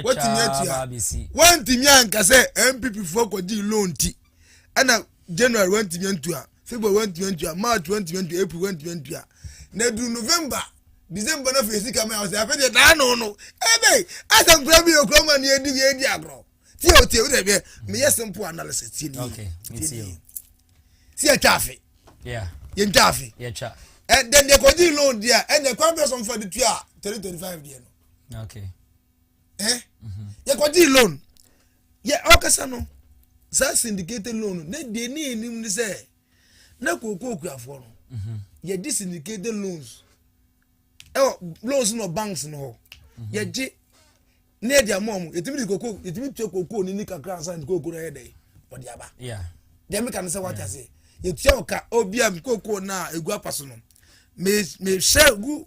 wɔtumi atua wɔntumi anka sɛ npp foɔ kɔgye loan ti ɛna january wɔntumi antua february wɔntumi antua march wɔntumi antua april wɔntumi antua na duru november december na fɛ sika mɛ ɔsɛ afɛ deɛ daa no no ɛbɛ asɛm kura bi yɛ kura ma ne yɛ di yɛ di agorɔ tie o tie o deɛ bɛ mɛ yɛ simple analysis tie ni yɛ tie ni yɛ si yɛ twa afe yɛ ntwa afe ɛ dɛn deɛ kɔgye loan deɛ ɛna kwan bɛ sɔn fɔ de tua thirty twenty five deɛ no. okay. eh? mm-hmm. yɛkɔgyee loan yɛ ɔkasa no saa syndicated loan no na deɛ ne anim ne sɛ na kookoo kuafoɔ no mm-hmm. yɛgye syndicated loans ɛwɔ loans no banks no hɔ mm-hmm. yɛgye ne yɛde ama ɔmo yɛtumi de kookoo yɛtumi tua kookoo ne ni kakra ansa ne kookoo no yɛ dɛ ɔde aba deɛ meka no sɛ wate aseɛ yɛtua ɔka obiam kookoo no a ɛgu apa so no mehyɛ gu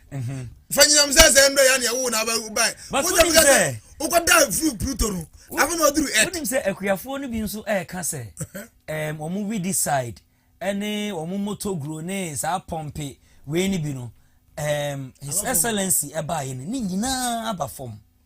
fa nyinam sɛ sɛ ndɔ ya nea wo na wo ba wo sɛ mo sɛ wo kɔ da fru pluto no afa na oduru et wonim sɛ akuafoɔ no bi nso ɛka sɛ ɛm wɔn widi side ɛne wɔn moto guro ne saa pɔmpe wei ne bi no ɛm his excellency ɛbaayɛ no ne nyinaa aba fam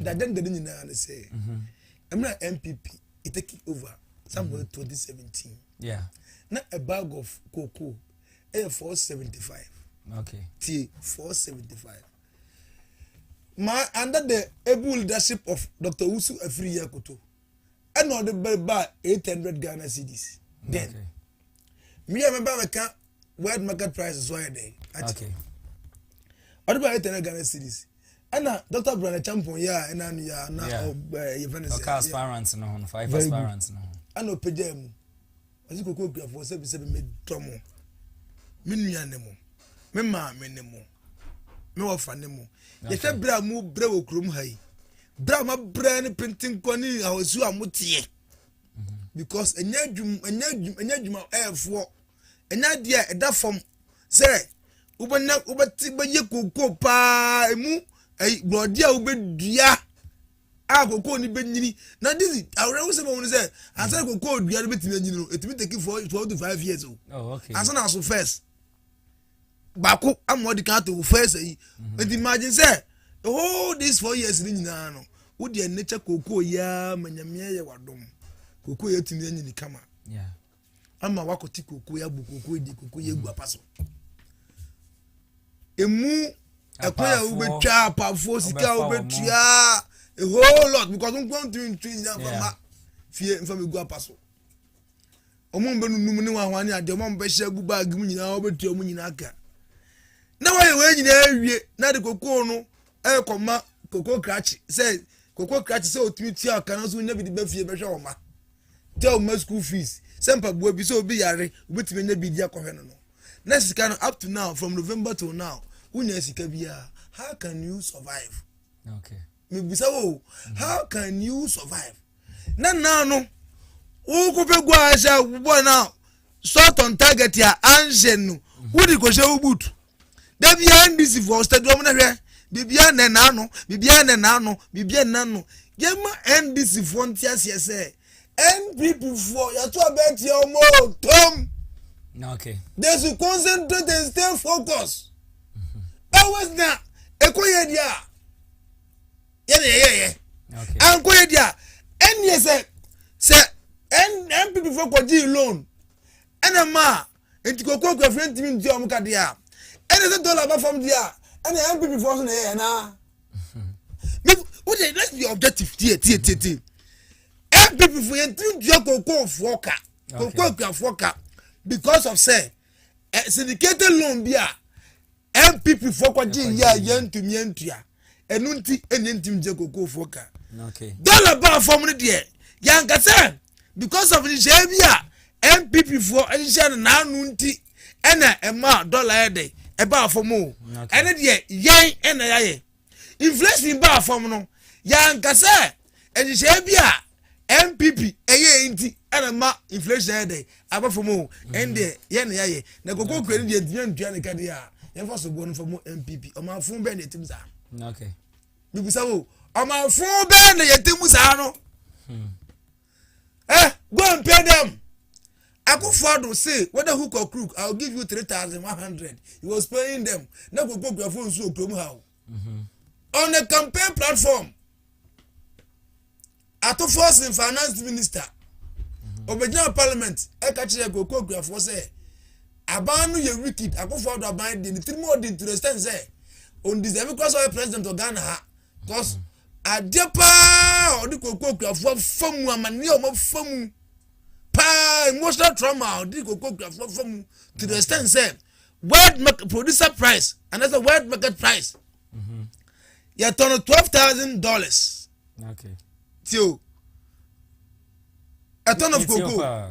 Dade dade nyinaa ne sɛ mmerɛ a NPP e taking over somewhere mm -hmm. 2017 yeah. na a bag of cocoa ɛyɛ 475 okay. tie 475 ma under the able leadership of Dr. Wusu Afiri Yakoto ɛna ɔde bɛ ba 800 Ghana cedis then okay. me a mɛba bɛka world market price so ayɛ dɛn ɔde bɛ 800 Ghana cedis ɛna dr brane champon yɛ a ɛna no yɛ a na yɛfɛ no sɛɛsparant no ho no five sparant no ho ɛna ɔpɛgyaa mu ɔse koko kuafoɔ sɛbisɛbi medɔ mo me nua ne mo me maame ne mo me wɔfa ne mo yɛhwɛ berɛ a mo brɛ wɔ kurom ha yi berɛ a mabrɛ ne pentenkɔ ne ahosuo a moteɛ because ɛnyɛ adwuma ɛnyɛ adwuma ɛyɛ adwuma ɛyɛfoɔ ɛnyɛ adeɛ a ɛda fam sɛ wobɛnya wobɛte bɛyɛ kokoo paa emu ɛyi borɔdeɛ a wobɛdua a kokoo ni bɛnyini na de si awerɛho sɛ bɛhu no sɛ ansa na kokoo dua no bɛtumi anyini no ɛtumi take four twelve to five years o oh, ansa na aso first baako ama ɔde kan ato first ayi nti mhm. imagine sɛ the whole these four years ni nyinaa no wo deɛ ne kyɛ kokoo yia ma nyamea yɛ wadom kokoo yɛ tumi anyini kama. Yeah. ama wakɔte kokoe abu kokoe de kokoe agu apa so emu ɛkwan a wobɛtwa apafoɔ sika a wobɛtua a whole lot because nkwa ntumi ntumi nyina mfa ma fie mfa bɛgu apa so ɔmo mbɛnunum ne wahoa ne adeɛ ɔmo mbɛhyɛ agu baag mu nyinaa wobɛtua ɔmo nyinaa ka na wɔyɛ wɔn nyinaa awie na de kokoo no ɛrekɔma kokoo krakye sɛ kokoo krakye sɛ otumi tua ɔka no nso nya bi de bɛ fie bɛhwɛ wɔn ma. gya wɔn mma school fees sɛ mpaboa bi sɛ obi yare wobɛtumi anya biribi akɔhwɛ no no na sika no up to now from november till now wonya sika biara how can you survive okay. mebisa wo mm-hmm. how can you survive na naa no wokɔpɛ gua ahyɛ wobɔ no a shot on target a anhyɛ no wode kɔhyɛ wo boot da biara ndc foɔ stadium no hwɛ biribiara nnɛ n'ano biribiara nnɛ n'ano biribiara nnɛ n'ano yɛma ndc foɔ nte aseɛ sɛ npp foɔ yɛto abɛɛ tia wɔn o tom okay. they should concentrate and stay focused mm-hmm. always na ɛkɔ yɛ deɛ a yɛ na yɛyɛyɛ ankɔ yɛ deɛ a ɛnneɛ sɛ sɛ npp fo kɔgyee loan ɛna ma a nti kɔkɔ akuafo ntumi ntua wɔn ka deɛ a ɛna sɛ dɔla ba fam deɛ a ɛna npp fo so na yɛyɛ naa wode hmm. let's be objective tie tie tie tie npp fo yɛntumi ntua kɔkɔ foɔ ka kɔkɔ akuafoɔ ka because of sɛ eh, syndicated loan bi a npp foɔ kɔgye yɛ a yɛntumi antua ɛno nti ɛnyɛ ntim gye kokofoɔ ka dɔla baa fam no deɛ yɛanka sɛ because of nhyehyɛeɛ bi a npp foɔ nhyehyɛ no naano nti ɛna ɛma dɔla yɛ dɛ ɛbaa fam o ɛne deɛ yɛn ɛna yɛayɛ inflation baa fam no yɛanka sɛ nhyehyɛe bi a npp ɛyɛ nti ɛna ma inflation ayɛ dɛ aba fam o ɛndeɛ yɛn na yɛayɛ na koko kura no deɛ ntumi ntua ne ka deɛ a yɛmfa so boɔ no fa mu npp ɔmanfo bɛn na ɛtim saa mebisa wo ɔmanfo bɛn na yɛtim saa no hmm. Eh, go and pay them. Akufo-Addo say whether hook or crook, I will give you three thousand one hundred. He was paying them. Na koko kura phone so okura mu ha o. Mm-hmm. On a campaign platform, Ato Force in finance minister, Obejina mm-hmm. parliament, Eka Chile koko kura phone say, aban no yɛ wicked Akufo-Addo aban di ni tirimu odi ntiresta nsɛ on deserve kura sɛ ɔyɛ president of Ghana ha. Because mm-hmm. adeɛ paa a ɔde kɔkɔ akuafoɔ afa mu amanneɛ a wɔafa mu paa emotional trauma a ɔde kɔkɔ akuafoɔ afa mu to the extent sɛ world market producer price anaasɛ world market price mm-hmm. yɛtɔ no twelve thousand dollars tio ɛtɔ no koko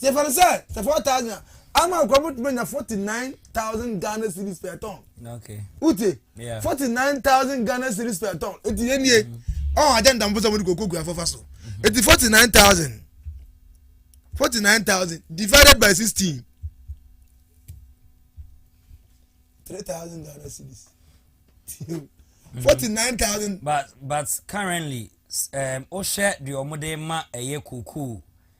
Yɛfa no sɛ sɛ 4000 a, ama wo koraa wobɛtumi anya 49000 Ghana cedis per ton. Wote? 49000 Ghana cedis per ton. Enti yɛnie, mm-hmm. ɔn agya ndamfo sɛ wɔde kɔkɔ kuafoɔ fa so. Mm-hmm. Enti 49000. 49000 divided by 16. 3000 Ghana cedis. 49000. But but currently, um, wohwɛ deɛ wɔde ma ɛyɛ koko.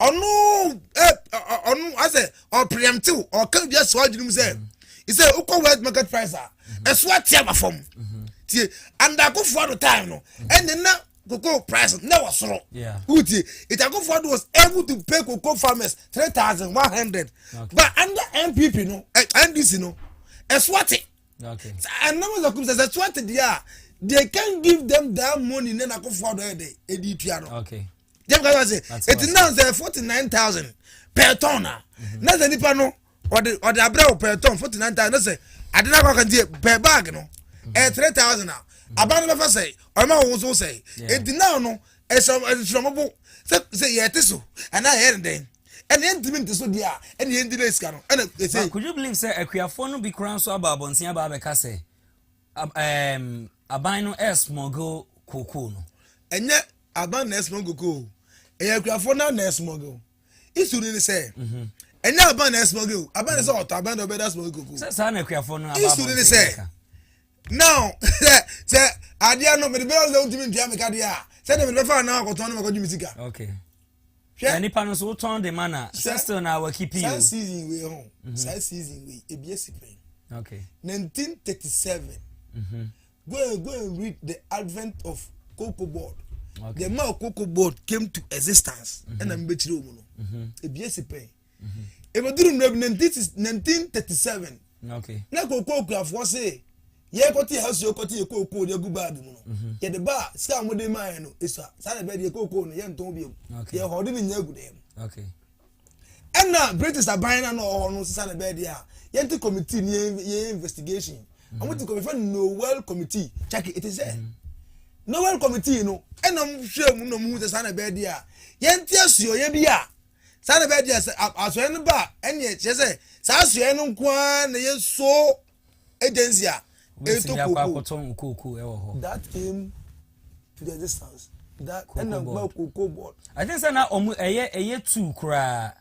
ɔno ɛ ɔno asɛ ɔpreemptew ɔka bi asɔ adwene mu sɛ sɛ wokɔ world market price a ɛso ate aba fam tie andakofoɔ do time no ɛne na cocoa price na wɔ soro wotie itakofoɔ do was able to pay cocoa farmers three thousand one hundred but under npp no eh, ndc no ɛso ate ɛnam ɛsɛ kum sɛ sɛ ɛso ate deɛ a they can give them that money na nakofoɔ do ɛde ɛde tua no. Okay. jẹm kasa ase eti na sẹ forty nine thousand per ton na na sẹ nipa no ọdi ọdi abirẹ o per ton forty nine thousand na sẹ adi na akọka nti per bag no ẹ three thousand a aban no bẹ fa sẹ ọmọ wọn so sẹ eti na no ẹsẹ ẹsẹ ọmọ bo sẹ sẹ yẹ ti so ẹna ẹ yẹ ne dẹn ɛna yɛn ntumi nti so deɛ a ɛna yɛn di na esika no ɛna ese. could you believe sɛ akuafoɔ no bi kura nso aba abɔnten aba abɛka sɛ Ab ɛɛm aban no ɛresmuggle kookoo no. Ɛnyɛ aban na ɛresmuggle kookoo o, ɛyɛ akurafoɔ no ara na ɛresmuggle. Issue no ne sɛ, mhm. ɛnyɛ aban na ɛresmuggle o, aban na sɛ ɔtɔ aban na ɔbɛda smuggle kookoo. Sɛ saa na akurafoɔ no aba abɔnten. Issue no ne sɛ, now sɛ sɛ adeɛ no mede bɛyɛ sɛ wotumi ntua me ka deɛ a sɛdeɛ mede bɛfa anaa akɔtɔn no makɔgye me sika. Okay. Hwɛ. Na nipa no so wotɔn de ma na sɛ still na awaki pii o. Saa season wei ho mhm. saa season wei ebi esi pɛn. Okay. 1937 mhm. go and go and read the advent of cocoa board. Okay. The man cocoa board came to existence mhm. ɛna mbɛkyerɛ omu no ebi esi pɛn. ɛbɛduru mmerɛ bi 1937 na kookoo kurafoɔ se yɛkɔte yɛ hasuo kɔte yɛ kookoo de agu baage mu no mhm. yɛde ba a sika a wɔde maa yɛ no ɛsua saa na ɛbɛyɛ deɛ kookoo no yɛntɔn biom yɛhɔ ɔde ne nya agu dɛm ɛna british aban no a na ɔwɔ hɔ no sisa na ɛbɛyɛ deɛ a yɛnte committee ne yɛ investigation mhm. wɔn ti kɔmifɛ noel committee kyake ɛte sɛ mhm. noel committee no ɛna wɔn hwɛ mu na wɔn hu sɛ saa na ɛbɛyɛ deɛ a yɛnte asuo yɛ bi a Saa na ɛbɛyɛ deɛ sɛ asoɛeɛ no ba a, ɛneɛ kyerɛ sɛ saa asoɛeɛ no nko ara na yɛ so agency a ɛtɔ kooko. That came to the existence. That ɛna nkuma kooko board. I think sɛ na ɔmo ɛyɛ ɛyɛ two koraa.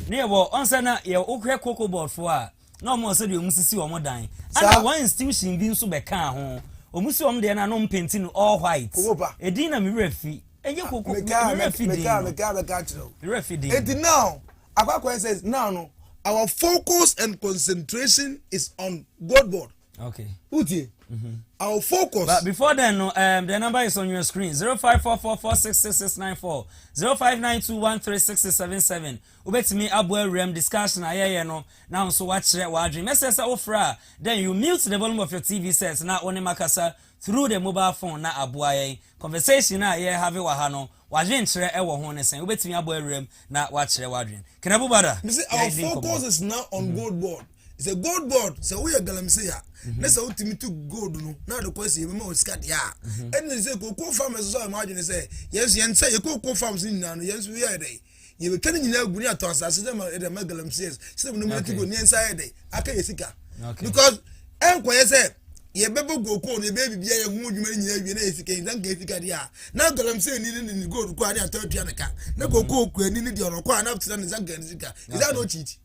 Ne yɛ wɔ ɔn sɛ na yɛ wohwɛ kooko board fo a. Na wɔn sɛdeɛ wɔn sisi wɔn dan. Ɛna wɔn institution bi nso bɛkaa ho. Wɔn si wɔn deɛ no a na wɔn painti no all white. Kokopa. Edin na me werɛ fi. Ɛnyɛ koko me werɛ fi din no. Mekaa bɛka akyerɛ wo. Me werɛ fi din no. Eti now Akwakoen says now no our focus and concentration is on gold board. Okay. Uti. Mm-hmm. I'll focus. But before then, no, um, the number is on your screen: zero five four four four six six six nine four zero five nine two one three six six seven seven. Ubetumi abo awuram discussion ayɛyɛ no na nso wakyerɛ wadwin. Mɛsɛ sɛ wofra then you mute the volume of your TV set na wɔne makasa through the mobile phone na aboa yɛn. Conversation a yɛ have wɔ ha no, w'adwenkyerɛ wɔ ho ne sɛn? Wobɛtumi abɔ awuram na woakyerɛ w'adwene. Can everybody? Me se our focus is now on gold board. Sɛ gold board, sɛ woyɛ galamsey a, na sɛ wotumi tu gold no na ade kɔ ase yɛbɛma wɔn sika deɛ a, ɛnna sɛ cocoa farmers nso ayɛ wɔn adwene sɛ yɛn nso yɛn sɛ yɛ cocoa farms no nyinaa no yɛn nso yɛyɛ dɛ. yɛbɛtwa ne nyinaa gu ne atɔ asase dɛ ma ɛdɛ ma galamsees sɛ nom yɛte go neɛ nsa yɛ dɛ aka yɛ sika because ɛnkɔyɛ sɛ yɛbɛbɔ gokoo no yɛbɛyɛ biribi ayɛ ho adwuma no nyinaa awie na yɛ sika yi sanka yɛ sika deɛ a na galamsee ni ne ne gold kɔ a ne atɔ atua ne ka na gokoo kura ni ne deɛ ɔnɔkɔ a na tena ne sanka ne sika ɛsɛ na ɔkyiti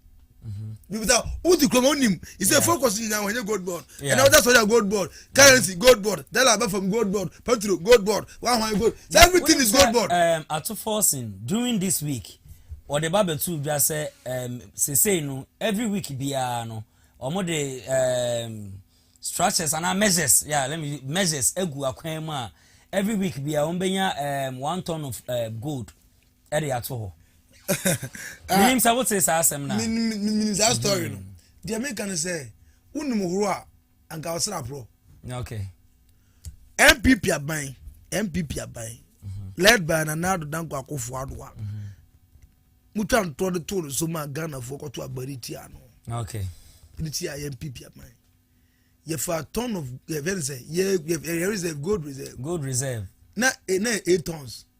wodi kuroma wonim ɛsɛ focus nyinaa wɔnyɛ gold board ɛna wode asɔre a gold board currency gold board dala aba fam gold board petro gold board wahwan gold so everything is gold board. Um, ato forcing during this week wɔde ba bɛtu dwa sɛ um, sesei no every week biara no wɔn de um, structures anaa measures yeah, let me measures egu akwan mu a every week biara wɔn bɛnya um, one ton of uh, gold. ɛde ato hɔ ah. menim sɛ wote saa asɛm no menim saa story no mm-hmm. deɛ meka no sɛ wonim horo a anka ɔsra porɔ okay npp aban npp aban mm-hmm. led by nana ado danko akofo adoa mm-hmm. mutwa ntoɔ de too no so ma ghanafoɔ kɔto agbari tia no okay ne tia yɛ npp aban yɛfa ton of yɛfɛ ne sɛ yɛ yɛ reserve gold reserve gold reserve na eh, na eight tons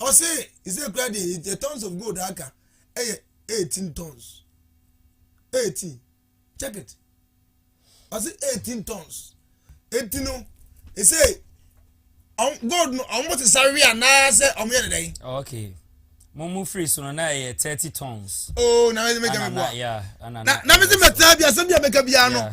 ɔse sɛ kura deɛ yɛ tons of gold aka ɛyɛ 18 tons 18 check it ɔse 18 tons eti no ɛsɛ gold no ɔmo te sa wia naa sɛ ɔmo yɛ dɛdɛn. okay mo mu firi so no na ɛyɛ thirty tons. oo oh, na mɛ mɛ kɛ mi bu a na mɛ ti mɛ tẹ bi asɛm bi a mɛ kɛ bi a no.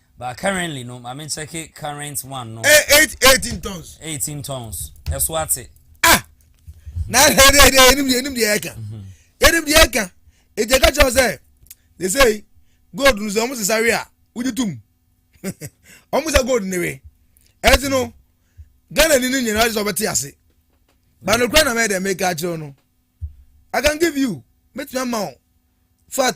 But currently no ma me check current one no. Eh eight eighteen tons. Eighteen tons. Ɛso ate. Ah na ɛhɛ de de enim de enim de ɛka. Enim de ɛka. Eti ɛka kyerɛ sɛ they say gold no sɛ wɔn sisa we a wodi tum. Wɔn sisa gold ne we. Ɛti no Ghana ni ni nyinaa sɛ ɔbɛte ase. Bano kura na mɛ de mɛ ka kyerɛ no. I can give you. Mɛtumi ama wo. Fat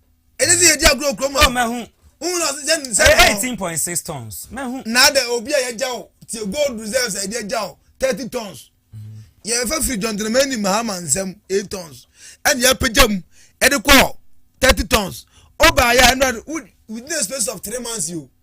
ɛne sɛ yɛdi agorɔ kurom a mɛhu wohu na ɔse sɛ sɛ eighteen point six tons mɛhu na adɛ obi a yɛgya wo tie gold reserves a yɛde agya wo thirty tons yɛfa firi jɔntenama ni mahama nsɛm eight tons ɛne yɛapagya mu ɛde kɔ thirty tons ɔbaayɛ ɛnora within a space of three months yo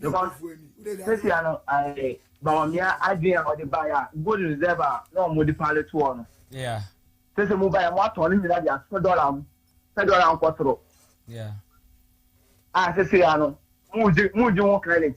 because sisi ano ɛɛ bawamia adwene a ɔde ba yɛ a gold reserve a na wɔn de paale toɔ no sisi mu ba yɛ mo atɔn ne nyinaa de asɔ dɔla mu sɛ dɔla nkɔ soro a sisi ano mo di mo di ho credit.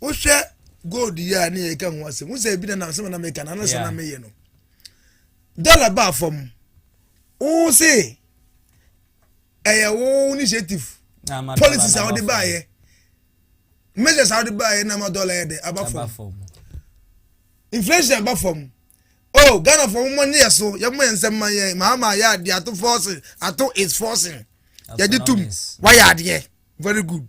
wohwɛ gold yi a ne yɛ ka ho asɛm wosɛ ebi na nam sɛ na meka na anasa na meyɛ no dɔla baa fam wo se ɛyɛ wo initiative policies a wode baayɛ measures a wode baayɛ na ma dɔla yɛ dɛ aba fam inflation aba fam oh ghana fɔ mo ne yɛ so yɛ mo yɛ nsɛm ma yɛ mahama yɛ adeɛ ato forcing ato is forcing yɛde tum wayɛ adeɛ very good.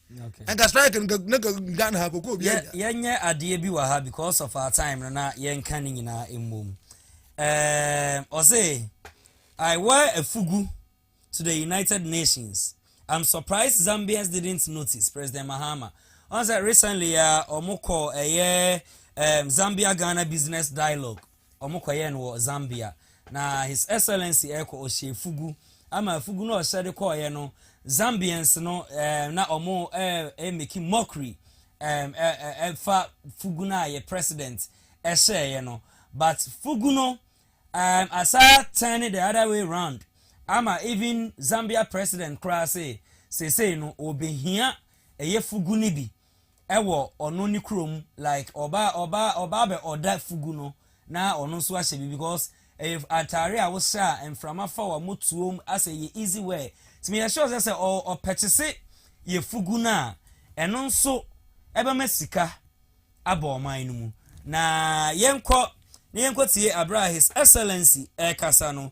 nka strike no na nka ghana ha koko obi agya yɛnyɛ adeɛ bi wɔ ha because of our time no na yɛnka ne nyinaa mmom ɔse i wear a fugu to the united nations i'm surprised zambians didn't notice president mahama ɔn sɛ recently a ɔmo kɔ ɛyɛ um, zambia ghana business dialogue Wɔkɔyɛɛ no wɔ Zambia. Na His Excellency rekɔ, ɔhyɛ afugu. Ama afugu no a ɔhyɛ de kɔeɛ no, Zambians no ɛɛm, na wɔn ɛɛ making mockery ɛɛm, ɛɛ, ɛfa fugu no a yɛ President ɛhyɛeɛ no. But fugu no ɛɛm, asa turn the other way round ama even Zambia President koraa se, seesei no wɔbɛhia ɛyɛ fugu no bi. ɛwɔ ɔno ne kurom like ɔba ɔba ɔba bɛ ɔda fugu no na ɔno nso ahyɛ bi because ɛyɛ atare a wohyɛ a mframa fa wa mo tuom asɛ yɛ easy wear ti mi yɛ sure sɛ sɛ ɔ ɔpɛkyese yɛ fugu no a ɛno nso ɛbɛma sika aba ɔman no mu na yɛnkɔ na yɛnkɔ tie abere a his excellency ɛkasa no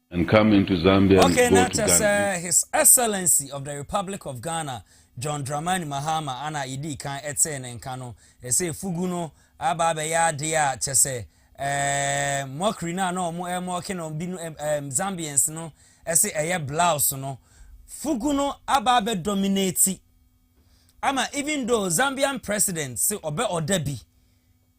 and come into Zambia and go to Ghana. Okay, na His Excellency of the Republic of Ghana, John Dramani Mahama, ana yɛdii kan ɛtee ne nka no, ɛsɛ fugu no aba abɛyɛ adeɛ a kyɛ sɛ eh, mockery no a na wɔn eh, mɔke no bi no eh, Zambians no ɛsɛ ɛyɛ blouse no fugu no aba abɛ dominate ama even though Zambian president se ɔbɛ ɔda bi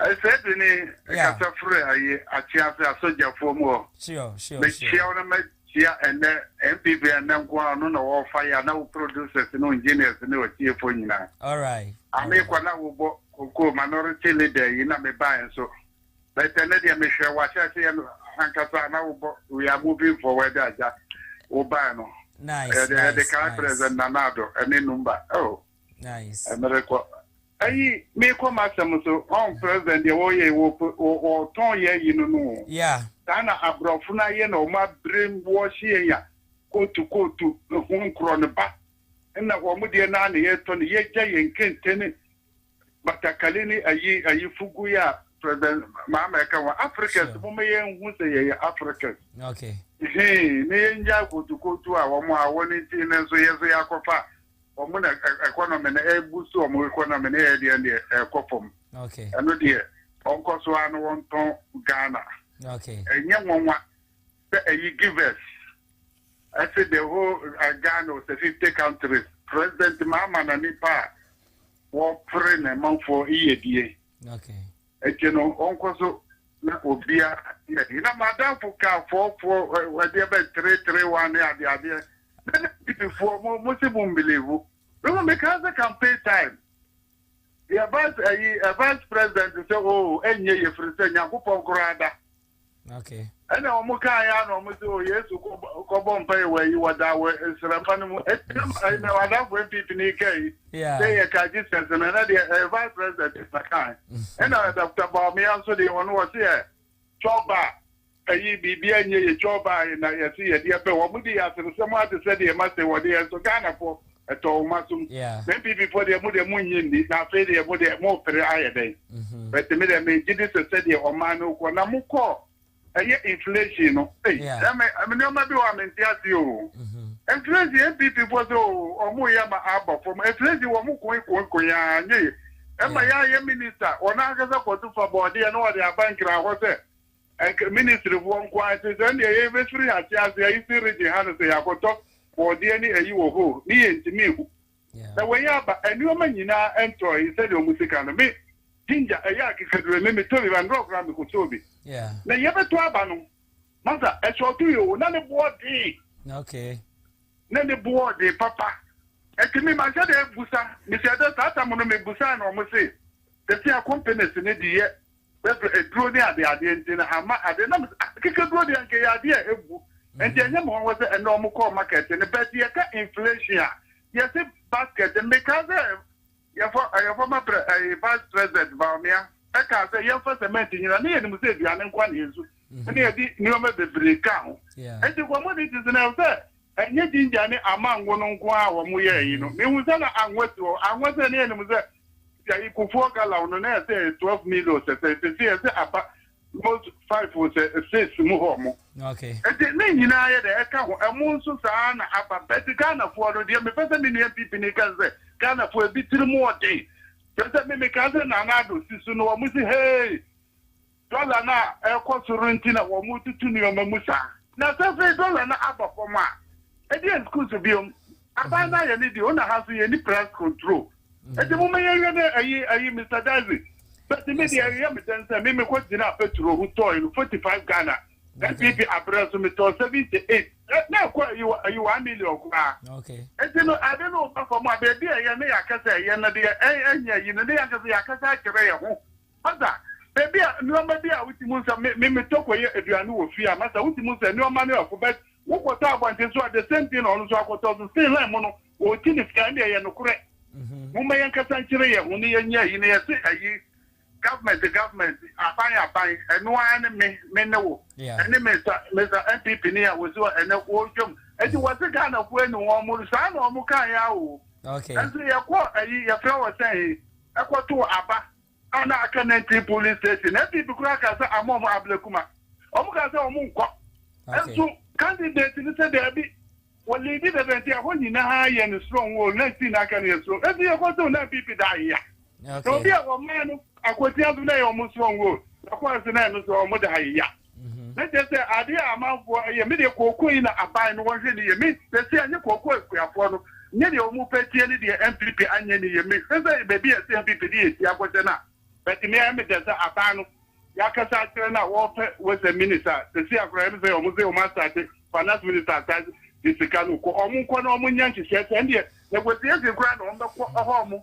Sɛ de ne kasa firi ayi akyea ase asogyafoɔ mu hɔ. Mekyia wo na makyia ɛnɛ NPP ɛnɛ nko ara ɔno na ɔwɔ fire ana wo producers ne engineers ne ɔtiefoɔ nyinaa. Ame kɔ na wobɔ koko minority leader yi na mebaeɛ nso but ɛnɛ deɛ mehwɛ w'ahyɛaseɛ no ankasa ana wobɔ we are moving forward agya wobaeɛ no yɛde kae President Nana Addo ɛne Numba oh. Nice. Merekɔ. Ayi, merekɔ m'asɛm so. Ɔn president deɛ wɔyɛ yi, wɔ wɔtɔn yɛ ayi no no o. Yeah. Saa na aborɔfo no ayɛ na wɔn abrem wɔhye yɛn a kootu kootu ho nkorɔ no ba. Ɛna wɔn deɛ no ara na yɛretɔ no. Yɛagya yɛn kente ne batakali ne ayi ayi fugu yi a president Mahama ɛka ho. Africans Sure. momma yɛnhu sɛ yɛyɛ Africans. Okay. Hee, na yɛngyae kootu kootu a wɔn a wɔn nti no nso yɛn nso yɛakɔfa Wɔn na ɛkɔ no mene ɛbu so wɔn rekɔ na mene yɛ deɛ deɛ ɛkɔ fam ɛno deɛ wɔnkɔ so ara na wɔntɔn Ghana ɛnyɛ nwanwa sɛ ɛyi givers ɛse the whole Ghana was a 50 countries president Mahama na nipa a wɔpere ne manfoɔ yiyedie. Akyi no ɔnkɔ so na obia yɛ ade na madamfo kaa fɔɔfoɔ adeɛ bɛ three three one ne adeɛ adeɛ na na DP foɔ mo mo se mo mbelivu me mo mekaa sɛ campaign time yɛ vice ayi vice president sɛ oo ɛnyɛ yɛ firi sɛ Nyankopɔn koraa da Okay. ɛna wɔn kaa ya na wɔn sɛ o oh, yesu kɔbɔ mpa yi wɔ yi wɔda wɔ nsirama no mu ɛna na wadanfo npp ni kaa yi sɛ yɛ kaa jesus na ɛna deɛ ɛyɛ vice president na kaa ɛna dɔkta baomia nso deɛ wɔn wɔ se yɛ twɔba ɛyi biribi anyɛ yɛ twɔba na yɛsi yɛde ɛpɛ wɔn di yɛ aseresɛm ate sɛ deɛ ɛma se wɔde yɛ nso ghana fo Ɛtɔ wɔn asom. Na NPP foɔ deɛ mo deɛ mo nnye nni na afei deɛ mo deɛ mo pere ayɛ dɛn? But me deɛ me gye di sɛ sɛdeɛ ɔman no rekɔ na mo kɔ ɛyɛ inflation no ei ɛme nneɛma bi wɔ a me nte aseɛ oo. Inflation NPP foɔ sɛ oo wɔn reyɛ ama aba fam inflation wɔn koe koe koe aa nyɛ ye. Ɛma yɛ ayɛ minister wɔn ankasa kɔto fa bɔɔdeɛ na wɔde aba nkran hɔ sɛ Anka ministry foɔ nko ara te sɛ ndeɛ yɛ bɛ firi ase ase a eastern region ha no sɛ yɛ akɔtɔ bɔɔdeɛ ne ayi wɔ hɔ o me yɛ ntumi nhu na wei aba ɛnoɔma nyinaa ntɔ yi sɛdeɛ ɔmo si ka no me ginger ɛyɛ akekaduro me me tɔ bi ba ndrɔ koraa me kɔtɔɔ bi na yɛ bɛ tɔ aba no masa ɛsɔɔto yi o na ne boɔ den na ne boɔ den papa ɛti me manhyɛ dɛ busa me hyɛ dɛ saa tam no me busa na ɔmo se sɛsi a companies ne de yɛ Bɛfrɛ aduro ne adeɛ adeɛ nti no ama adeɛ na mesɛ ah kekaduro deɛ anka ɛyɛ adeɛ a ɛbu nti ɛnyɛ me nwanwa sɛ ɛnɛ wɔn kɔɔ market no but yɛka inflation a yɛse basket no mekaa sɛ yɛfɔ ɛyɛ former pre ɛyɛ vice president Bawumia ɛkaa sɛ yɛmfa cement nyina ne yɛnim sɛ aduane nkoa na yɛsu ɛna yɛde nneɛma bebree ka ho nti commodities no ɛwɔ sɛ Ɛnyɛ ginger ne amango no nko ara a wɔyɛɛ eyi no. Mihu sɛ na anwa si hɔ. Anwa sɛ na yenim sɛ ayi kufuor gallon no na ɛyɛ sɛ twelve mil o sɛ sɛ sɛsɛ ɛyɛ sɛ aba mot five o sɛ six mu hɔ mo. Nti ne nyinaa yɛ dɛ ɛka ho. Ɛmo nso saa ara na aba. But Ghanafoɔ no deɛ mepɛ sɛ me nua NPP ni ka ne sɛ Ghanafoɔ ebi tiri mu ɔden. Kyerɛ sɛ me mekaa sɛ Nana Addo si so no wɔn si hee. Dɔla no a ɛrekɔ soro nti na wɔretutu nneɛma mu saa. Na sɛ afei dɔla no aba fam a, ɛdeɛn sukuu so bio? Aban no ayɛ ne deɛ, o na ha nso yɛnni price control. Enti momma yɛnhwɛ ne ayi ayi Mister Daisy. But me deɛ ɛyɛ me dɛn sɛ me mekɔ gyinaa petrol ho tɔɔe no forty five Ghana, NPP aberɛ nso metɔɔ seventy eight. Na ɛkɔ ayi wɔ ayi one million koraa. Enti no ade no reba fam a baabi a ɛyɛ na yɛakasa ɛyɛ no deɛ ɛnyɛ ayi no na yɛn ankasa yɛakasa akyerɛ yɛn ho. Masa, baabi a nnoɔma bi a wotim hu sɛ me metɔ kɔyɛ aduane wɔ fie a masa wotim hu sɛ nnoɔma no ɛfo but wo kɔtɔ abɔnten so a the same thing na ɔno nso akɔtɔ so still line mu no ɔɔti ne sika ɛnde ɛyɛ nokorɛ momma yɛn kasa nkyerɛ yɛn ho ne yɛn nyɛ ayi ne yɛ se ayi government government aban aban ɛno ara ne me me ne wo ɛne Mr Mr NPP ni a wɔsi hɔ ɛnɛ wɔɔtwam ɛti wɔ se Ghana foɔ ani wɔn mo saa na wɔn kaa yɛ a o ɛnso yɛkɔ ayi yɛfrɛ wɔ sɛn kɔtoo aba a na aka Nantwi police station. NPP koraa kaa sɛ ama wɔn ablakuma. Wɔn kaa sɛ wɔn nkɔ. Nso candidate no sɛ daabi. Wɔ leadi dada nti ɛhɔ nyinaa yɛ no strong o. Na nti na aka no yɛ strong. Nso yɛ kɔtoo na NPP da ayea. Na obi a wɔmaa no akwatia nso na ɛyɛ wɔn strong o. Ɛkɔɔ so na ɛno nso wɔn da ayea. Na kyerɛ sɛ adeɛ a amanfoɔ yɛ me deɛ kookoo yi na aban no wɔnhwɛ ne yie me sɛsɛ a nyɛ kookoo akuafoɔ no nyɛ deɛ wɔn pɛ tie ne deɛ NPP anyɛ ne yie me hwɛ sɛ baabi a ɛsɛ NPP de yɛ ti akɔhyɛ no a but me ɛyɛ me dɛ sɛ aban no yɛakasa akyerɛ no a wɔpɛ western minister sɛsɛ a koraa ɛme sɛ wɔn sɛ wɔn asate finance minister asate de sika no kɔ wɔn nkɔ na wɔn nyɛ nhyehyɛ sɛ ɛndeɛ negotiation koraa na wɔn bɛkɔ ɛhɔ wɔn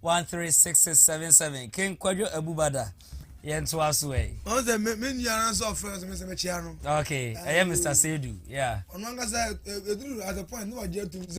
One three six six seven seven King Kwadwo Abu Bada yɛn to aso ɛ. Ɔn sɛ me me nua ara sɛ ɔfrɛ sɛ me sɛ me kyea no. Okay, ɛyɛ Mister Sedu, yeah. Ɔno ankasa eduru at a point na wagye atum sɛ.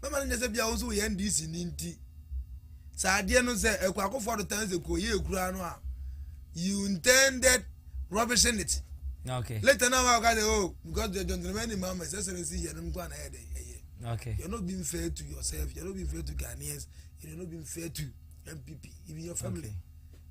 bɛma no nyɛ sɛ bia wo nso woyɛ ndc ni nti sɛ adeɛ no sɛ akuakofoɔ adotan sɛ kuo yɛ ekura no a you intended rubbishing it okay. later na wa ka sɛ oh because the gentleman ni mama sɛ sɛrɛ si yɛ no nko ana yɛ dɛ ɛyɛ okay. you're not being fair to yourself you're not being fair to Ghanaians you're not being fair to MPP even your family. Okay.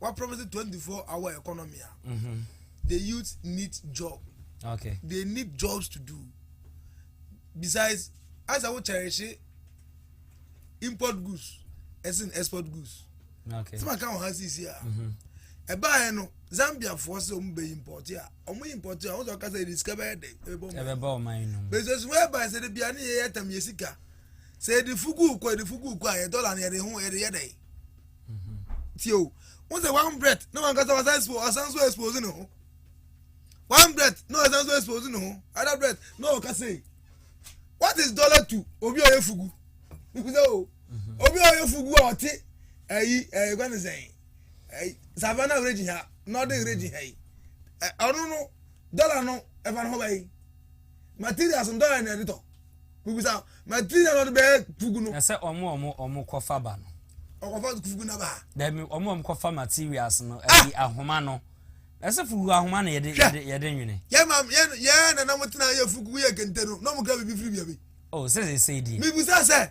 wa promise twenty four hour economy a mm-hmm. the youth need job okay. they need jobs to do besides as awo cherish import goods as in export goods okay. sima kan wɔ ha sisi a ɛbaa yɛ no zambia foɔ sɛ ɔmo bɛ import a ɔmo import a ɔmo sɛ ɔkasa yɛ sika bɛyɛ dɛ ɛbɛbɔ ɔmo ayi nom bɛsɛ so wɛɛ ba sɛ de bia ne yɛ yɛ tam yɛ sika sɛ yɛ de fugu kɔ yɛ de fugu kɔ a yɛ dɔla no yɛ de ho yɛ de yɛ dɛ. tie o wọn sɛ one breath na wọn kasa wasan expo wasan so expose ne ho one breath na wasan so expose ne ho other breath na ɔka sɛ what is dollar to obi a ɔyɛ fugu sɛ o obi a ɔyɛ fugu a ɔte ɛyi ɛyi kwan ne sɛn ɛyi savannah region ha northern region ha yi ɔno no dollar no ɛfa ne ho bɛyi. Materials ntɔ yɛ na ɛde tɔ. Bibisa material na ɔde bɛyɛ fugu no. Na sɛ ɔmo ɔmo ɔmo kɔ fa ba no. Ɔkɔfa fugu na ba. Dɛbi ɔmo ɔmo kɔ fa materials no ah! ɛyi ahoma no. Na sɛ fugu ahoma na yɛde yɛde yɛde nwene. Yɛ maam yɛ yɛ nana mo tena yɛ fugu yɛ kente no na ɔmo kura bibi firi bia bi. Oh sɛ sɛ sɛ di. Bibisa sɛ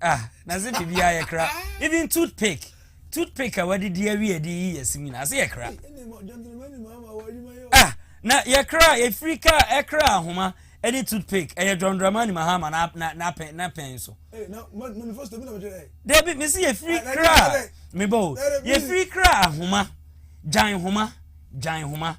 ah na se biribiara yɛ kra even toothpick toothpick a wadidi awie ɛde yi yɛ sim nyinaa ase yɛ kra ah na yɛ kra efiri ka ɛkra ahoma ɛne toothpick ɛyɛ john dramani mahama na na na pɛn na pɛn so. dabi mesi yɛfiri kra mebɔ o yɛfiri kra ahoma gyan homa gyan homa.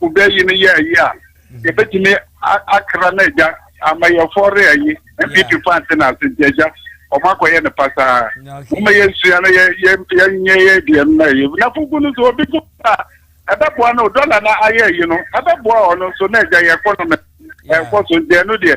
wobɛyi no yɛ ayi a, yɛbɛtumi akra no agya ama yɛfɔ re ayi. MPP fo ante no ase nti agya, wɔn akɔyɛ no pasaa. Moma yɛnsua no yɛnyɛ yɛ deɛ no na ɛyɛ. Na fugu no so obi gu a ɛbɛboa no dɔla no ayɛ ayi no ɛbɛboa ɔno nso na agya yɛkɔ no mɛ ɛkɔ so nti ɛno deɛ.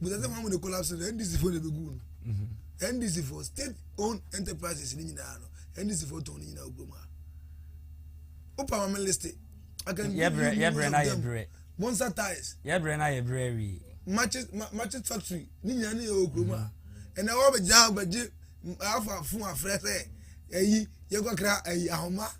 busa sɛ wɔn na collapse no ndc fo na ebe gu no ndc mhm. fo state owned enterprises ni nyinaa no ndc fo tɔn ne nyinaa ogu mu a o pa wɔn list aka ndi ni mu na dem bonsa tiles yɛbrɛ na yɛbrɛ wi matches matches factory ni nyinaa ne yɛ wɔ kurom a ɛnna wɔn bɛ gya bɛ gye afa fun afrɛ sɛ ɛyi yɛ kɔkra ɛyi ahoma.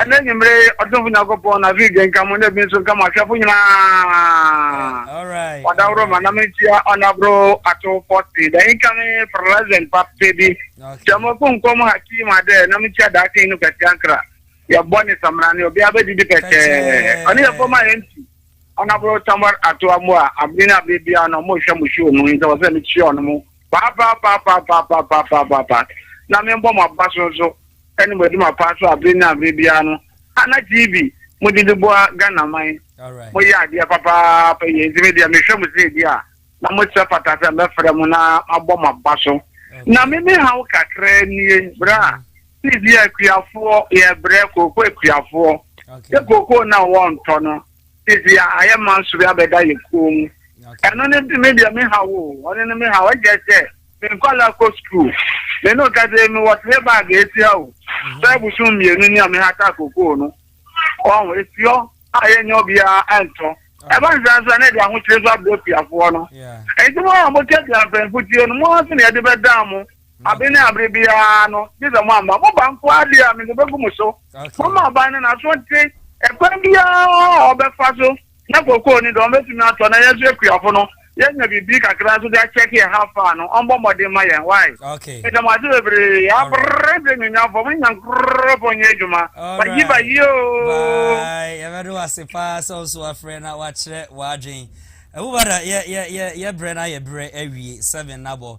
ɛnɛ nwummere ɔdomfo nyankopɔn na fii gye nka mo na ebi nso nka mo ahwɛfo nyinaa wadaworo ma nam ntia ɔnaboro ato pɔte da income present pape bi sɛ mo ko nkɔm hakim adɛ nam ntia daakye yi no pɛte ankra yɛbɔ ne samra ne obi abɛdidi pɛtɛɛ ɔne yɛbɔ ma yɛnti ɔnaboro tamar ato amoa abere ne abere biara no mo hwɛ mo hwɛ ɔmu yi sɛ wɔsɛ mekyia ɔno mo paapaapaapaapaapaapaapaa na me bɔ ma ba so nso ɛne mo adi ma paa so abere ne abere biara no ana tv mo de de bɔ a ghana man mo yɛ adeɛ papaapa yɛ nti me deɛ me hwɛ mo sɛ ebi a na mo sɛ fata sɛ mɛ fɛrɛ mo na ma bɔ ma ba so na me me ha wo kakra nie bra tv akuafoɔ yɛ brɛ kooko akuafoɔ yɛ kooko na wɔntɔ no. Sisi a ayɛ ma nso bi abɛda yɛ kuo mu. Ɛno ne me deɛ me ha wo ɔno ne me ha ɛgya sɛ me nkɔla kɔ sukuu me ne ɔkɛse me wɔ tele bag esi ha o sɛ ebusun mmienu ni a me ha ta kokoo no ɔho esi hɔ a yɛnyɛ obiara ɛntɔ ɛba nsa nso ɛne de ahokyere so abɔ piafoɔ no ɛnti mo a mo tɛ bi afɛnfo tie no mo ara so na yɛde bɛdaa mo. Abe ne abere biara no, gye sɛ moamma mo ba nko ara deɛ a, mede bɛgu mo so. Momma ɔbaa no n'aso nte ɛkwan biara a ɔbɛfa so na kookoo ne deɛ ɔbɛtumi atɔ na yɛn nso akuafo no, yɛanya biribi kakra nso de akyɛke ɛha faa no. Ɔmmɔ mmɔden mma yɛn. Wai! Meda mo ase bebree. Abere de Nnunyamfoɔ, mo Nyankorɔpɔn nyɛ adwuma. Bayi bayi oo! Bye! Yɛbɛde wo ase paa sɛ wo nso wafrɛ na wakyerɛ w'adwene. Ɛwom ara, yɛ, yɛ, yɛ, yɛ berɛ no ayɛ berɛ awie, seven no abɔ.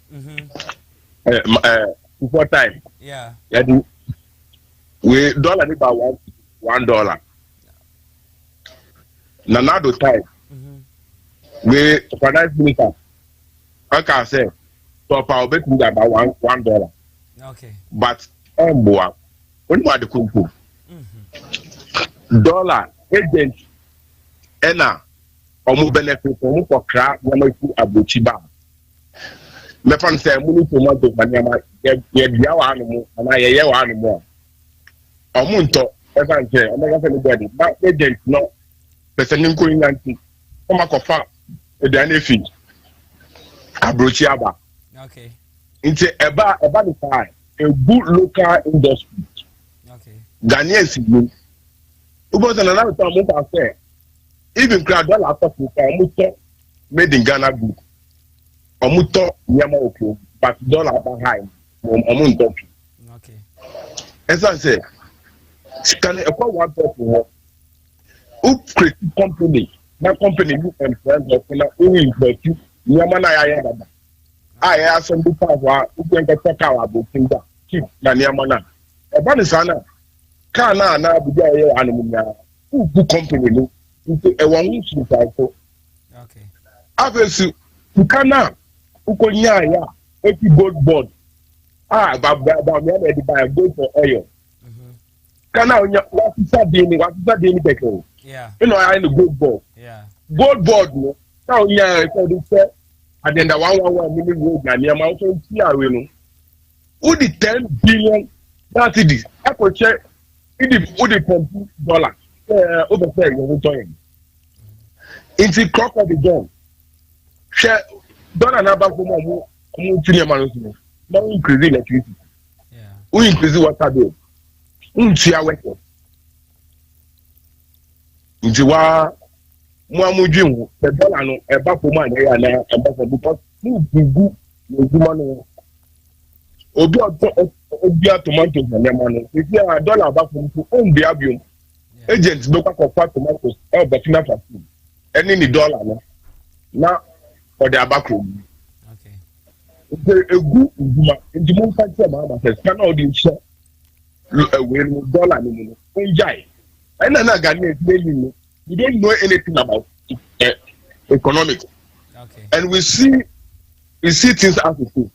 before time yɛde wei dɔla ne ba one one dollar na n'ado time wei finance minister ɔka sɛ tɔpa obetumi de aba one one dollar but ɛmboa onim ade kumpo dɔla agent ɛna ɔmo benefit ɔmo kɔkra nneɛma fi aburokyi baa. mɛfa no sɛ mo ne tomato ma nneɛma yɛdua wɔ ano mu anaa yɛyɛ wɔ ano mu a ɔmo ntɔ ɛfa nkyɛn ɔmo ɛka sɛ ne bɔdi na agent no pɛsɛ ne nkɔ nya nti ɔmo akɔfa aduane efi aburokyi aba nti ɛba ɛba ne saa egu local industry ghanaian si mu wobɔ sɛ nana nso ɔmo fa sɛ even kura dɔla akɔfo kura ɔmo tɔ. made in ghana good ɔmo tɔ nneɛma wɔ kurom but dɔla aba high wɔn ɔmo ntɔ pi ɛsan sɛ sika no ɛkɔ one person hɔ o create company na company no employ nkorɔfo na o invest nneɛma na yɛayɛ dada a yɛ asɛm bi pa hɔ a o kɛn kɛtɛ kaa wɔ abokin da cheap na nneɛma na ɛba ne saa na kaa na anaa bibi a yɛyɛ wɔ hanom nyinaa o bu company no nti ɛwɔ ho nsunsuanso. afei so sika no a wokɔnyaeɛ a ɛfi gold bond a bameɛ na ɛde baɛ gold for oil mm-hmm. sika no a wonya wasesa din no wasesa din no kɛkɛ o ɛna ɔyɛ no gold bond gold bond no na wonyaeɛ sɛ wode sɛ adenda one one one mini road na nneɛma nso nti awe no wodi ten billion na cedis ɛkɔhyɛ ɛdi wodi pɔmpu dɔla ɛɛ wobɛ sɛ yɛn ho tɔ yɛn. nti kɔkɔ de dɔn hwɛ dɔla na abafo mu ɔmo ɔmo tu nneɛma no so no na o increase electricity o increase water bill o ntua wɛtɛ nti waa mo a mo dwi ho sɛ dɔla no ɛba fam a na ɛyɛ anaa ɛba fam because mo gugu n'adwuma no obi a ɔtɔ ɔbia tomato nneɛma no ebi a dɔla aba fam so o mbia biom. agent bɛkɔ akɔfa tomatoes ɛwɔ burkina faso ɛne ne dollar no na ɔde aba kuro mu nti egu ndwuma nti mo nfa kyerɛ maa ma sɛ sika na ɔde nhyɛ ɛwɛ no dollar no mu no ɔngyae ɛna na ghanaian ti ɛni no we don't know anything about uh, economics okay. and we see we see things as it is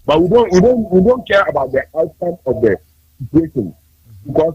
but we don't we don't we don't care about the outcome of the situation mm-hmm. because.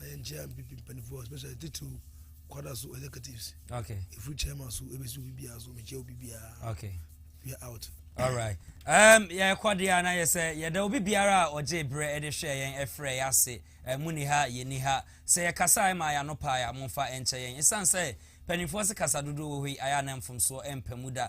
na yɛn nkyɛn npp mpanimfoɔ especially titiriw kwada so executives okay efiri chairman so ebesi obi biara so mekyia obi biara okay we are out. alright um, yɛkɔ deɛ a na yɛ sɛ yɛda obi biara a ɔgye berɛ de hwɛ yɛn ɛfrɛ yɛ ase mu ni ha yɛ ni ha sɛ yɛkasa ɛma yɛ ano paa yɛ amofa ɛnkyɛ yɛn ɛsiane sɛ mpanimfoɔ se kasa dodoɔ wɔ hɔ yi ayɛ ana mfomsoɔ ɛmpa mu da